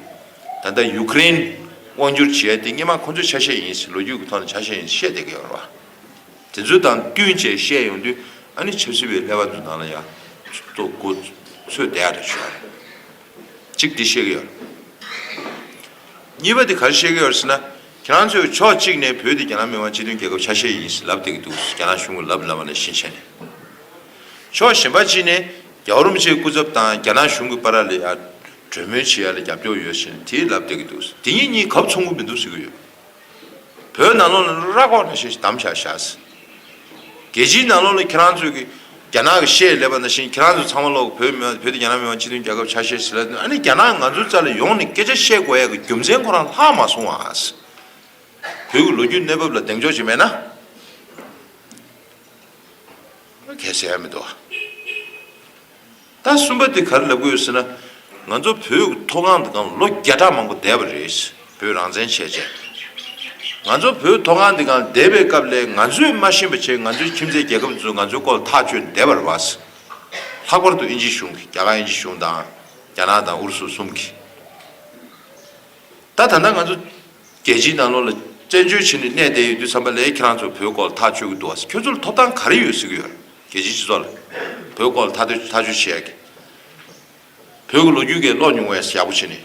ད་ལྟ་ཡུ་ཀེ་རེན་དབང་བསྒྱུར་བྱེད་ཡ་དེ་སྙེ་མ་ཁོ་ཚོའི་ཆ་ཤས་ཡིན་ཟེར་ལོ་རྒྱུས་ཀྱི་ཐོག་ནས་ཆ་ཤས་ཡིན་བཤད་བསྡད་ཀྱི་ཡོད་རེད་བ། དེ་ཚོ་དང་བསྟུན་བཅས་བཤད་ཡོང་དུས་ཨ་ནི་ཆབ་སྲིད་པའི་ཀླད་པ་འདི་ནང་ལ་ཡ་ལྟོ་གོ་ཚོད་བསྡད་ཡ་འདྲ་བྱུང་བ་རེད། གཅིག་འདི་བཤད་ཀྱི་ཡོད་རེད། གཉིས་པ་འདི་ག་རེ་བཤད་ཀྱི་ཡོད་རེད་ཟེར་ན། ཁྱེད་ཚོས་ཕྱོགས་གཅིག་ནས་བོད་འདི་རྒྱ་ནག་མི་དམངས་སྤྱི་མཐུན་རྒྱལ་ཁབ་ཆ་ཤས་ཡིན་ཞེས་ལབ་བསྡད་ཀྱི་འདུག་རྒྱ་ནག་གཞུང་གིས་ལབ་ལབ་པ་ལ་ཤིན་ཆད་ནས། ཕྱོགས་གཞན་པ་གཅིག་ནས་རྒྱ་རོམ་ཅེའི་སྐུ་ཚབ་དང་རྒྱ་ནག་གཞུང་གི་པ་ར་ལི་ཡར་གྲོས་མོལ་བྱེད་ཡ་ལ་རྒྱབ་སྐྱོར་ཡོད་ཞེས་དེས་ལབ་བསྡད་ཀྱི་འདུག་འདི་གཉིས་གཉིས་གབ་མཚུངས་པོ་མི་འདུག་ཟེར་གྱི་ཡོད། བོད་ནང་ལོག་ན་ར་ཁོག་ན་ཤེས་ཞེས་གདམ་བྱ་བཞག་ཟེར། རྒྱལ་སྤྱིའི་ནང་ལོགས་ལ་ཁྱེད་རང་ཚོས་ཀྱི་རྒྱ་ནག་གི་ཤེས་ལས་པ་ནང་བཞིན་ཁྱེད་རང་ཚོ་ཚང་མ་ལོགས་བོད་མི་དབང་བོད་དེ་རྒྱ་ནག་མི་དབང་སྤྱི་མཐུན་རྒྱལ་ཁབ་ཆགས་བཤད་ཟེར་ལབ་དུས་ཨ་ནི་རྒྱ་ནག་ང་ཚོའི་རྩ་ལ་ཡོང་ནས་སྐད་ཆ་བཤད་དགོས་ཡ་གི་རྒྱུ་མཚན་ཁོ་རང་ལྷག་མ་སོང་བ་ཨ། བོད་ཀྱི་ལོ་རྒྱུས་གནས་བབ་ལ་གདེང་འཇོག་བྱེད་མེད་ན། གལ་སྲིད་ཨ་མི་འདུག་ཨ། ད་གསུམ་པ་དེ་ག་རེ་ལ་དགོས་ཟེར་ན། ང་ཚོ་བོད་མཐོ་སྒང་དུ་གང་ལོ་བརྒྱ་ཕྲག་མང་པོ་བསྡད་པ་རེད། བོད་རང་བཙན་བྱས་རྗེས། ང་ཚོ་བོད་མཐོ་སྒང་དེ་གང་བསྡད་པའི་སྐབས་ལས་ང་ཚོས་མ་ཤེས་པ་ཆེ་ང་ཚོའི་ཁྱིམ་མཚེས་རྒྱལ་ཁབ་ཚོས་ང་ཚོའི་སྐོར་ལ་ཐག་གཅོད་བསྡད་པར་བ། ལྷག་པར་དུ་ཨིན་ཇི་གཞུང་གིས་རྒྱ་གར་ཨིན་ཇི་གཞུང་དང། རྒྱ་ནག་དང་ཨུ་རུ་སུ་གསུམ་གིས། ད་ད་ལྟ་ང་ཚོ་རྒྱལ་སྤྱིའི་ནང་ལོགས་ལ་བཙན་བྱོལ་བྱས་ནས་གནས་བསྡད་ཡོད་དུས་བསམ་པ་ལས་ཁྱེད་རང་ཚོ་བོད་སྐོར་ལ་ཐག་གཅོད་ཀྱི་འདུག་བ། ཁྱོད་ཚོ་ལ་ཐོབ་ཐང་ག་རེ་ཡོད་ཟེར་གྱི་ཡོད། རྒྱལ་སྤྱིའི་སྤྱི་ཚོགས་ལ་བོད་སྐོར་ལ་ཐ་དོད་ཐག་གཅོད་བྱེད་ཡག་གི། བོད་ཀྱི་ལོ་རྒྱུས་གས་ཀློག་མྱོང་བས་ཡག་པོ་བྱེད་ནི།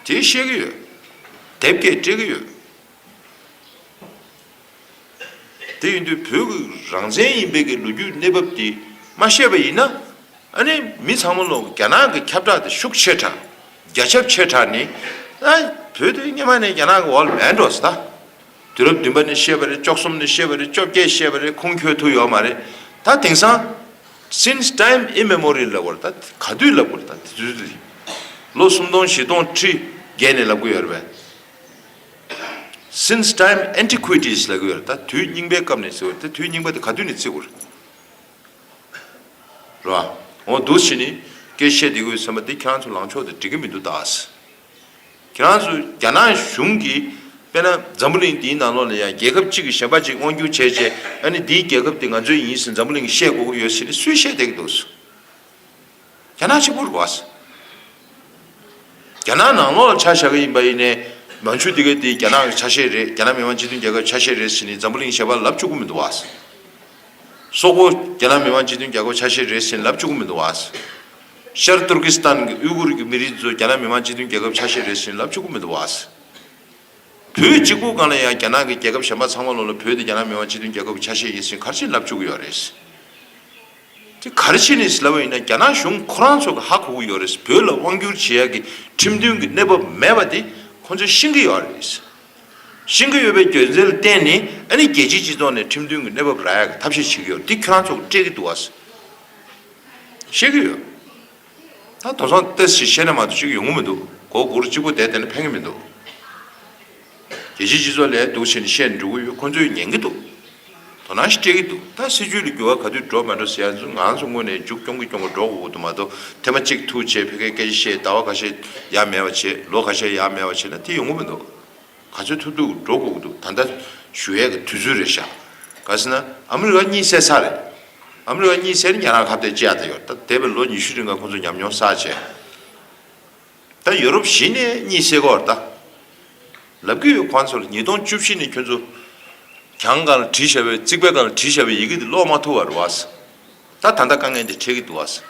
དེས་ཤེས་ཀྱི་ཡོད། དེབ་སྐད་སྤྲད་ཀྱི་ཡོད། དེ་ཡིན་དུས་བོད་ཀྱི་རང་བཙན་ཡིན་པའི་གི་ལོ་རྒྱུས་གནས་བབ་དེ་མ་ཤེས་པ་ཡིན་ན། ཨ་ནི་མི་ཚང་མ་ལོག་རྒྱ་ནག་གི་ཁྱབ་བསྒྲགས་དེ་ཤུགས་ཆེ་དྲགས། རྒྱ་ཁྱབ་ཆེ་དྲགས་ནི། ཨ་བོད་དེ་སྙེ་མ་ནས་རྒྱ་ནག་གི་འོག་ལ་མེད་འགྲོ་སྲིད་ད། དུས་རབས་བདུན་པ་ནས་བཤད་པ་རེད་བཅོ་གསུམ་ནས་བཤད་པ་རེད་བཅོ་བརྒྱད་བཤད་པ་རེད་ཁུངས་འཁྱོལ་ཐུབ་ཡོད་མ་རེད་ད་དེང་སང། Since time immemorial ལབ་དགོས་རེད་ད་ག་དུས་ལབ་དགོས་རེད་ད་དུས་དུས་ལོ་སུམ་སྟོང་བཞི་སྟོང་ཁྲི་བརྒལ་ནས་ལབ་དགོས་ཡོད་རེད་བས། Since time antiquities ལབ་དགོས་ཡོད་རེད་ད་དུས་རྙིང་པའི་སྐབས་ནས་ཟེར་བ་རེད་ད་དུས་རྙིང་པ་དེ་ག་དུས་ནས་བརྩི་དགོས་རེད། རེད་བ། འོ་འདུག་ཕྱིས་ནས་སྐད་བཤད་དེ་གོ་ཡོད་སེམས་པ་འདི་ཁྱེད་རང་ཚོ་ལངས་ཕྱོགས་དེ་འགྲིག་གི་མི་འདུག་ད། ཁྱེད་རང་ཚོས་རྒྱ་ནག་གཞུང་གིས་དཔེར་ན་འཛམ་བུ་གླིང་འདིའི་ནང་ལོགས་ལ་ཡང་རྒྱལ་ཁབ་གཅིག་གི་གཞན་པ་གཅིག་དབང་སྒྱུར་བྱས་རྗེས་ཨ་ནི་འདིའི་རྒྱལ་ཁབ་དེ་ང་ཚོའི་ཡིན་ཟེར་འཛམ་བུ་གླིང་གིས་བཤད་དགོས་ཀྱི་ཡོད་ཟེར་ནས་སུས་བཤད་བསྡད་ཀྱི་འདུག་གསུངས། རྒྱ་ནག་ཆེན་པོ་རུ་བ་ཟེར། རྒྱ་ནག་ནང་ལོགས་ལ་ཆ་བཞག་གི་ཡིན་པ་ཡིན་ནས་མང་ཆུ་འདི་ག་དེ་རྒྱ་ནག་གི་ཆ་ཤས་རེད་རྒྱ་ནག་མི་དམངས་སྤྱི་མཐུན་རྒྱལ་ཁབ་ཆ་ཤས་རེད་ཟེར་ནས་འཛམ་བུ་གླིང་གཞན་པ་ལབ་བཅུག་གི་མི་འདུག་བ་ཟེར། སོག་པོ་རྒྱ་ནག་མི་དམངས་སྤྱི་མཐུན་རྒྱལ་ཁབ་ཆ་ཤས་རེད་ཟེར་ནས་ལབ་བཅུག་གི་མི་འདུག་བ་ཟེར། ཤར་ཏུར་ཀི་སི་ཐན་གྱི་དབུས་གུར་གྱི་མི་རིགས་ཚོས་རྒྱ་ནག་མི་དམངས་སྤྱི་མཐུན་རྒྱལ་ཁབ་ཆ་ཤས་རེད་ཟིན་ལབ་ཆོག་གི་མི་འདུག་བ། བོད་སྤྱི་ཁོག་སྒང་ལ་ཡང་རྒྱ་ནག་གི་རྒྱལ་ཁབ་གཞན་པ་ཚང་མ་ལོག་ལ་བོད་དེ་རྒྱ་ནག་མི་དམངས་སྤྱི་མཐུན་རྒྱལ་ཁབ་གི་ཆ་ཤས་ཡིན་ཟིན་གར་ཆེན་ལབ་ཆོག་གི་ཡོད་རེད་ཟིན། དེ་གར་ཆེན་ནས་ལབ་པ་ཡིན་ན་རྒྱ་ནག་གཞུང་ཁོ་རང་ཚོ་གི་ཧ་གོ་གི་ཡོད་རེད་ཟིན་བོད་ལ་དབང་བསྒྱུར་བྱེད་ཡག་གི་ཁྲིམས་མཐུན་གྱི་གནས་བབ་མེད་པ་དེ་ཁོ་ཚོས་ཤེས་གི་ཡོད་རེད་ཟིན། ཤེས་གི་ཡོད་པའི་རྒྱུ་མཚན་ལ་བརྟེན་ནས་ཨ་ནི་རྒྱལ་སྤྱིའི་སྤྱི་ཚོགས་ནས་ཁྲིམས་མཐུན་གྱི་གནས་བབ་རག་ཡག་གི་ཐབས་ཤེས་བྱེད་གི་ཡོད་དེ་ཁྱོད་རང་ཚོ་སྤྲད་གི་འདུག་བ། བཤད་ཀྱི་ཡོད། ད་དོ་སང་ཏེ་སི་ཤེ་ན་མ་དུ་ཞིག་ཡོང་གི་མི་འདུག་གོ་དགུ་རུ་གཅིག་པོ་བསྡད་དེ་ནི་ཕན་གྱི་མི་འདུག། རྒྱལ་སྤྱིའི་སྤྱི་ཚོགས་ལས་འདུག་ཕྱིན་བཤད་འགྲོ་གི་ཡོད་ཁོ་ཚོས་ཉན་གྱི་འདུག་དོ་སྣང་ཞིག་སྤྲད་ཀྱི་འདུག་ད་སྲིད་ཇུས་ལ་འགྱུར་བ་ག་དུས་འགྲོ་མ་འགྲོ་ཟེར་ཡ་ཚོ་ང་ཚོ་སྔོན་ནས་མཇུག་སྐྱོང་གི་སྐྱོང་གི་འགྲོ་གི་འདུག་མ་དོ་དེ་མ་གཅིག་ཐུག་བྱས་ཕེ་ཁའི་སྐད་ཆ་བཤད་ཟླ་བ་ཁ་ཤས་ཡ་མེད་བ་བྱས་ལོ་ཁ་ཤས་ཡ་མེད་བ་བྱས་ན་དེ་ཡོང་གི་མི་འདུག། ག་ཚོད་ཐུབ་ཐུབ་འགྲོ་དགོས་ཀྱི་འདུག་ད་ལྟ་ཞུ་ཡས་ཀྱི་དུས་ཚོད་རེད་ཤག་ག་སེ་ན་ཨ་མི་རི་ཀ་གཉིད་སད་ས་རེད་ཨ་མི་རི་ཀ་གཉིད་སད་ནི་ཉ་རང་ཁ་བརྡའི་ལྕེ་ཡ་ད་ཡོད་ད་འདས་པའི་ལོ་ཉི་ཤུ་རིང་ག་ཁོ་ཚོ་ཉམས་མྱོང་བསགས་བྱས་ད་ཡོ་རོབ་གཞི་ནས་གཉིད་སད་གོ་རེད་ད་ལབ་ཀྱི་ཡོད་ཁོ་ཚོ་ལ་ཉིས་སྟོང་བཅུ་བཞི་ནས་ཁྱོད་ཚོ་གྱང་གང་ལ་བྲིས་བཞག་པའི་རྩིག་པའི་གང་ལ་བྲིས་བཞག་པའི་ཡི་གེ་དེ་ཀློག་མ་ཐུབ་བ་རེད་བ། ད་ད་ལྟ་དཀའ་ངལ་འདི་འཕྲད་ཀྱི་འདུག་ཨ་ཟེར།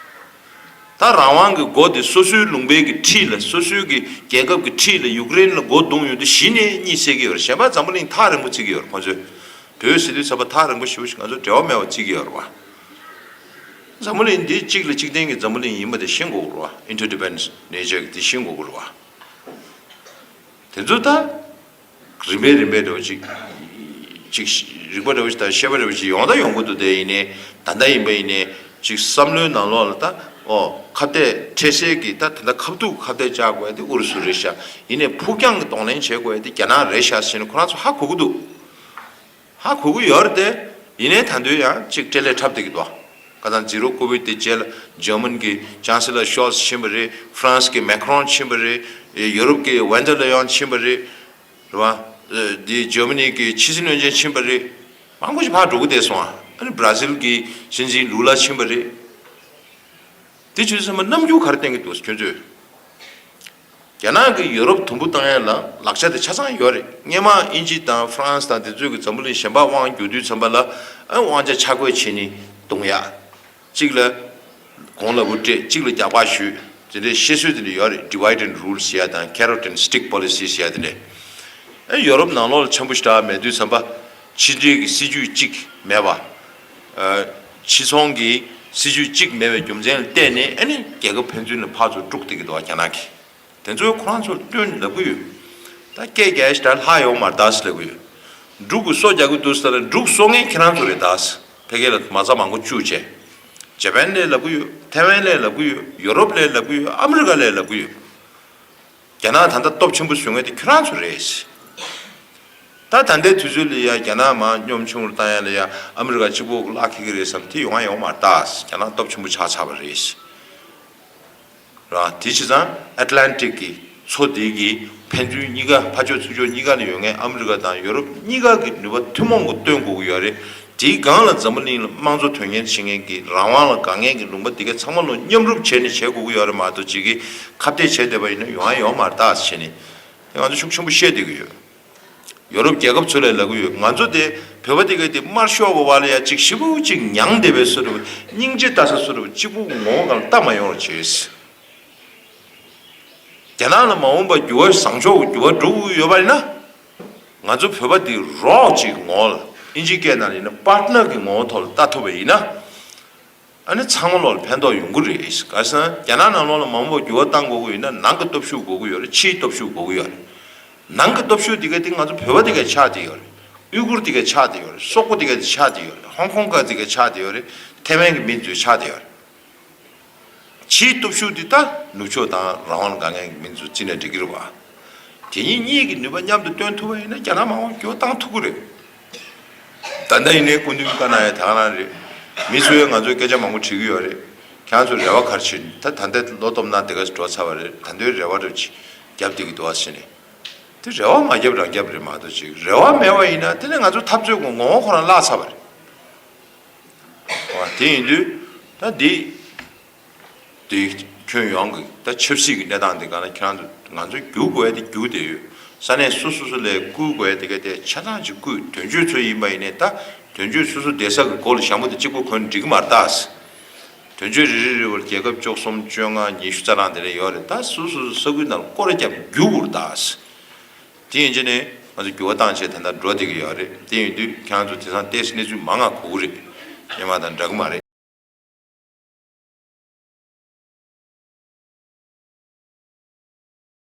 ད་རང་དབང་གི་མགོ་དེ་སོ་སོའི་ལུང་པའི་གི་ཁྲིད་ལ་སོ་སོའི་གི་རྒྱལ་ཁབ་གི་ཁྲིད་ལ་ཡུཀ་རེན་ལ་མགོ་རྡུང་ཡོང་དུས་གཞི་ནས་གཉིད་སད་ཀྱི་ཡོད་རེད་གཞན་པ་འཛམ་བུ་གླིང་ཐག་རིང་པོ་བརྩི་གི་ཡོད་རེད་ཁོང་ཚོས་བོད་སྲིད་དུས་ཚབ་པ་ཐག་རིང་པོ་ཞིག་ང་ཚོ་འབྲེལ་བ་མེད་པ་བརྩི་གི་ཡོད་རེད་བ། འཛམ་བུ་གླིང་འདི་གཅིག་ལ་གཅིག་བརྟེན་གི་འཛམ་བུ་གླིང་ཡིན་པ་དེ་ཤེས་མགོ་དགོས་རེད་བ Interdependence nature གི་དེ་ཤེས་མགོ་དགོས་རེད་བ། དེ་ཚོ་ད། རིམ་པས་རིམ་པས་འགྲོ་བ་ཅིག། ཅིག། རིག་པ་འགྲོ་བ་ཅིག་དང་ཤེས་པ་འགྲོ་བ་ཅིག་ཡོངས་དག་ཡོངས་ཀུན་དུ་དེ་ཡིན་ནི་ད་ལྟ་ཡིན་པ་ཡིན་ནི་ཅིག་བསམ་བློའི་ནང་ལོགས་ལ་ད་ཨོ་ཁ་བལྟས་འཕྲལ་གསལ་གྱི་ད་དེ་འདྲ་ཁ་བསྡུག་ཁ་བལྟས་བཅའ་དགོས་ཏེ་ཨུ་རུ་སུ་རེད་ཤག་ཡིན་ནི་ཕུགས་རྒྱང་གི་གདོང་ལེན་བྱེད་དགོས་ཏེ་རྒྱ་ནག་རེད་ཤག་བྱས་ནས་ཁོ་རང་ཚོ་ཧ་གོ་གི་འདུག། ཧ་གོ་གི་ཡོད་རེད་དེ། ཡིན་ནའི་ད་འདོད་ཡང་ཅིག་སྤྲེལ་ལད་འཁྲབ་བསྡད་ཀྱི་འདུག་ཁ་སང་ཛི་རོ་ཀོ་བིད་དེ་རྗེས་ལ་ཇར་མན་གྱི་ཅང་སི་ལ་ཤོལ་ཙི་ཕྱིན་པ་རེད། ཧྥ་རན་སི་གི་མེ་ཁི་རོན་ཕྱིན་པ་རེད། ཡོ་རོབ་ཀྱི་ཝན་དེར་ལེ་ཡོན་ཕྱིན་པ་རེད། རེད་བ། དེ་ཇར་མ་ནི་གི་ཕྱི་སྲིད་བློན་ཆེན་ཕྱིན་པ་རེད། མང་པོ་ཞིག་ཕར་འགྲོ་གི་བསྡད་སོང། ཨ་རི་བྷར་ཛིལ་གྱི་སྲིད་འཛིན་ལུ་ལ་ཕྱིན་པ་རེད། དེ་ཆོས་ཚང་མ་རྣམ་འགྱུར་ག་རེ་བསྟན་གྱི་འདུག་ཁྱོད་ཚོས། རྒྱ་ནག་གིས་ཡུ་རོབ་དུམ་བུ་བཏང་ཡས་ལ་ལག་ཆ་དེ་ཆ་ཚང་ཡོད་རེད་སྙེ་མ་ཨིན་ཇི་དང་ཧྥ་རན་སི་དང་དེ་ཚོས་གི་འཛམ་བུ་གླིང་གཞན་པ་དབང་བསྒྱུར་དུས་ཚན་པ་ལ་དབང་ཆ་ཆ་བགོས་བྱེད་ནི་དུང་ཡ་གཅིག་ལ་གོང་ལ་བུ་སྤྲད་གཅིག་ལ་རྒྱག་པ་ཞུས་དེ་འདྲའི་བཤད་སྲོལ་དེ་འདྲ་ཡོད་རེད Divide and Rule ཞེས་ཡ་དང Carrot and Stick Policy ཞེས་ཡ་དེ་འདྲའི་ཡུ་རོབ་ནང་ལོག་ལ་ཆམ་བུ་ཞིག་གྲགས་མེད་དུས་ཚན་པ་ཕྱི་འབྲེལ་གི་སྲིད་ཇུས་གཅིག་མེད་པ་ཕྱི་ཚོང་གི་སྲིད་ཇུས་གཅིག་མེད་པའི་རྒྱུ་མཚན་ལ་བལྟས་ནས་ཨ་ནི་རྒྱལ་ཁབ་ཕན་ཚུན་ལ་ཕར་ཚུར་དཀྲུག་སྡད་ཀྱི་འདུག་རྒྱ་ནག་གིས་དེ་ཚོ་ཁོ་རང་ཚོར་སྟོན་ལབ་ཀྱི་ཡོད། ད་སྐད་རྒྱ་ཞེས་ད་ལྷག་ཡོག་མར་ད་སེ་ལབ་ཀྱི་ཡོད། འབྲུག་གིས་སོ་རྒྱག་གི་འདུག་ཟེར་ན་འབྲུག་གསོ་མཁན་ཁྱེད་རང་ཚོ་རེད་ད་སེ་ཕལ་སྐད་ལ་མ་རྩ་མང་པོ་བཅུག་བྱས། ཇེ་པན་ལས་ལབ་ཀྱི་ཡོད་ཐེ་ཝན་ལས་ལབ་ཀྱི་ཡོད་ཡོ་རོབ་ལས་ལབ་ཀྱི་ཡོད་ཨ་མི་རི་ཀ་ལས་ལབ་ཀྱི་ཡོད། རྒྱ་ནག་ད་ལྟ་སྟོབས་ཆེན་པོ་བཟོས་ངེས་དེ་ཁྱོད་རང་ཚོ་རེད། ད་ད་ལྟའི་དུས་ཚོད་ལ་ཡ་རྒྱ་ནག་མ་གཉོམ་ཆུང་རུ་བཏང་ཡ་ལ་ཡ་ཨ་མི་རི་ཀ་གཅིག་པོ་བརླག་ཁེལ་གི་རེད་བསམ་དེ་ཡོང་ང་ཡོང་མ་རྟགས་རྒྱ་ནག་སྟོབས་ཆེན་པོ་ཆགས་ཆགས་པ་རེད། རང་དེ་བྱས་ཙང Atlantic གི་མཚོ་དེ་གི་ཕན་ཚུན་གཉིས་ཀ་ཕ་ཕྱོགས་ཚུལ་ཕྱོགས་གཉིས་ཀ་ནས་ཡོང་ངེས་ཨ་མི་རི་ཀ་དང་ཡོ་རོབ་གཉིས་ཀ་གི་ནུས་པ་ཐུན་མོང་གི་སྟོན་དགོས་ཀྱི་ཡོད་རེད། དེའི་སྒང་ལ་འཛམ་བུ་གླིང་ལ་དམངས་གཙོ་དོན་གཉེར་བྱེད་མཁན་གྱི་རང་དབང་ལ་དགའ་མཁན་གྱི་ལུང་པ་འདི་ག་ཚང་མ་ལོ་མཉམ་རུབ་བྱས་ནས་བྱེད་དགོས་ཀྱི་ཡོད་རེད་མ་གཏོགས་ཇི་གི་ཁ་བརྡས་བྱེད་བསྡད་པ་ཡིན་ན་ཡོང་ཡ་ཡོང་མ་རེད་ད་བྱས་ནས་དེ་ང་ཚོ་ཤུགས་ཆེན་པོ་བཤད་བསྡད་ཀྱི་ཡོད། ཡོ་རུབ་རྒྱལ་ཁབ་ཚོ་ལས་ལ་གུ་ཡོད་ང་ཚོ་དེ་བོད་པ་དེ་ག་དེ་དམར་ཤོག་གི་བ་ལ་ཡ་གཅིག་ཤི་བོ་གཅིག་མྱང་བསྡད་པའི་སུ་རེད་བ་སྙིང་རྗེ་ལྟ་ས་སུ་རེད་བ་གཅིག་པུ་ངོ་བོ་གང་ལྟ་མ་ཡོང་ར་བྱས་ཟེར། རྒྱ་ནག་ལ་མ་འོངས་པ་འགྱུར་བ་བཟང་ཕྱོགས་ཀྱི་འགྱུར་བ་འགྲོ་དགོས་ཀྱི་ཡོད་པ་ཡིན་ན། ང་ཚོ་བོད་པ་འདི་རོགས་ཀྱི་ངོ་ལ་ཨིན་ཇི་སྐད་ནང་ཡིན་ན Partner གི་ངོ་བོ་ཐོག་ལ་བལྟ་ཐུབ་པ་ཡིན་ན། ཨ་ནི་ཚང་མ་ལོག་ལ་ཕན་ཐོག་ཡོང་གི་རེད། ག་སང་རྒྱ་ནག་ནང་ལོག་ལ་མང་པོ་འགྱུར་བ་བཏང་དགོས་གི་ཡོད་ན་ནང་གི་སྟོབས་ཤུགས་དགོས་གི་ཡོད་རེད་ཕྱིའི་སྟོབས་ཤུགས་དགོས་གི་ཡོད་རེད། ནང་གི་སྟོབས་ཤུགས་དེ་ག་དེ་ང་ཚོ་བོད་པ་དེ་ག་ཆགས་དེ་ཡོད་རེད། དབྱུ་གུར་དེ་ག་ཆགས་དེ་ཡོད་རེད་སོག་པོ་དེ་ག་དེ་ཆགས་དེ་ཡོད་རེད་ཧོང་ཀོང་ག་དེ་ག་ཆགས་དེ་ཡོད་རེད་ཐེ་ཝན་གི་མི་དེ་ཚོ་ཆགས་དེ་ཡོད་རེད། ཕྱིའི་སྟོབས་ཤུགས་འདི་དག་ནུབ་ཕྱོགས་དང་རང་དབང་དགའ་ངན་གྱི་མིང་དུ་བརྩི་ནས་འགྲིག་གིར་བ། དེ་གཉིས་གཉིས་ཀྱི་ནུས་པ་མཉམ་དུ་བཏོན་ཐུབ་པ་ཡིན་ན་རྒྱ་ནག་མང་བོ་འགྱོ་བཏང་ཐུབ་ཀི་རེད། ད་ལྟ་ཡིན་ནའི་སྐུ་མདུན་བཀའ་གནང་ཡ་དག་གནང་རེད། མི་ཚོའི་ང་ཚོའི་སྐད་ཆ་མང་བོ་དྲིས་ཀི་ཡོད་རེད། ཁྱང་ཚོ་རེ་བ་གར་ཕྱིན་ད་ད་འདའི་བློ་སྟོབས་ནང་དེ་ག་འགྲོ་ཚར་བ་རེད་ད་འདའི་རེ་བ་རེ་བརྒྱབ་དེ་གི་འདུག་བ་ཟེར་ནས། དེ་རེ་བ་མ་བརྒྱབ་རང་བརྒྱབ་རེད་མ་གཏོགས་ཅིག་རེ་བ་མེད་བ་ཡིན་ན་དེ་ནས་ང་ཚོ་འཐབ་རྩོད་ཀྱི་ངོ་བོ་ཁོ་རང་བརླག་ཚར་བ་རེད། དེ་ཡིན་དུས་ད་འདི་དེ་ཁྱོན་ཡོངས་ཀྱི་ད་ཆབ་སྲིད་ཀྱི་གནས་སྟངས་དེ་ག་ན་ཁྱོད་རང་ང་ཚོ་རྒྱུག་དགོས་དེ་རྒྱུག་དེ་ཡོད་ས་གནས་སོ་སོ་སོ་ལས་བསྐུལ་དགོས་དེ་ག་དེ་ཆ་ཚང་ཅིག་བསྐུལ་དོན་གཅོད་ཚོ་ཡིན་པ་ཡིན་ནའི་ད་དོན་གཅོད་སོ་སོ་བསྡད་ས་ཀྱི་གོ་ལ་ཞང་པོ་དེ་གཅིག་པོ་གོ་ནས་འགྲིག་གི་མ་རྟགས་ཟེར་དོན་གཅོད་རེ་རེ་རེ་བར་རྒྱལ་ཁབ་བཅོ་གསུམ་བཅོ་ལྔ་ཉི་ཤུ་རྩ་གྲངས་དེ་རེ་ཡོད་རེད་ད་སོ་སོ་སོ་ས་ཁུལ་རྣམས་བསྐོར་རྒྱབ་འགྱུར་བོར་གདའ་ཟེར། དེ་ཡིན་ཕྱིན་ནས་ང་ཚོས་འགྱུར་བ་བཏང་ཆེད་དེ་འདྲ་འགྲོ་བསྡད་ཀྱི་ཡོད་རེད་དེ་ཡིན་དུས་ཁྱེད་རང་ཚོས་དེ་སང་ལྟས་གནས་ཚུལ་མ་མངའ་གོ་གི་རེད་ཡིན་མ་དང་འདྲ་གི་མ་རེད།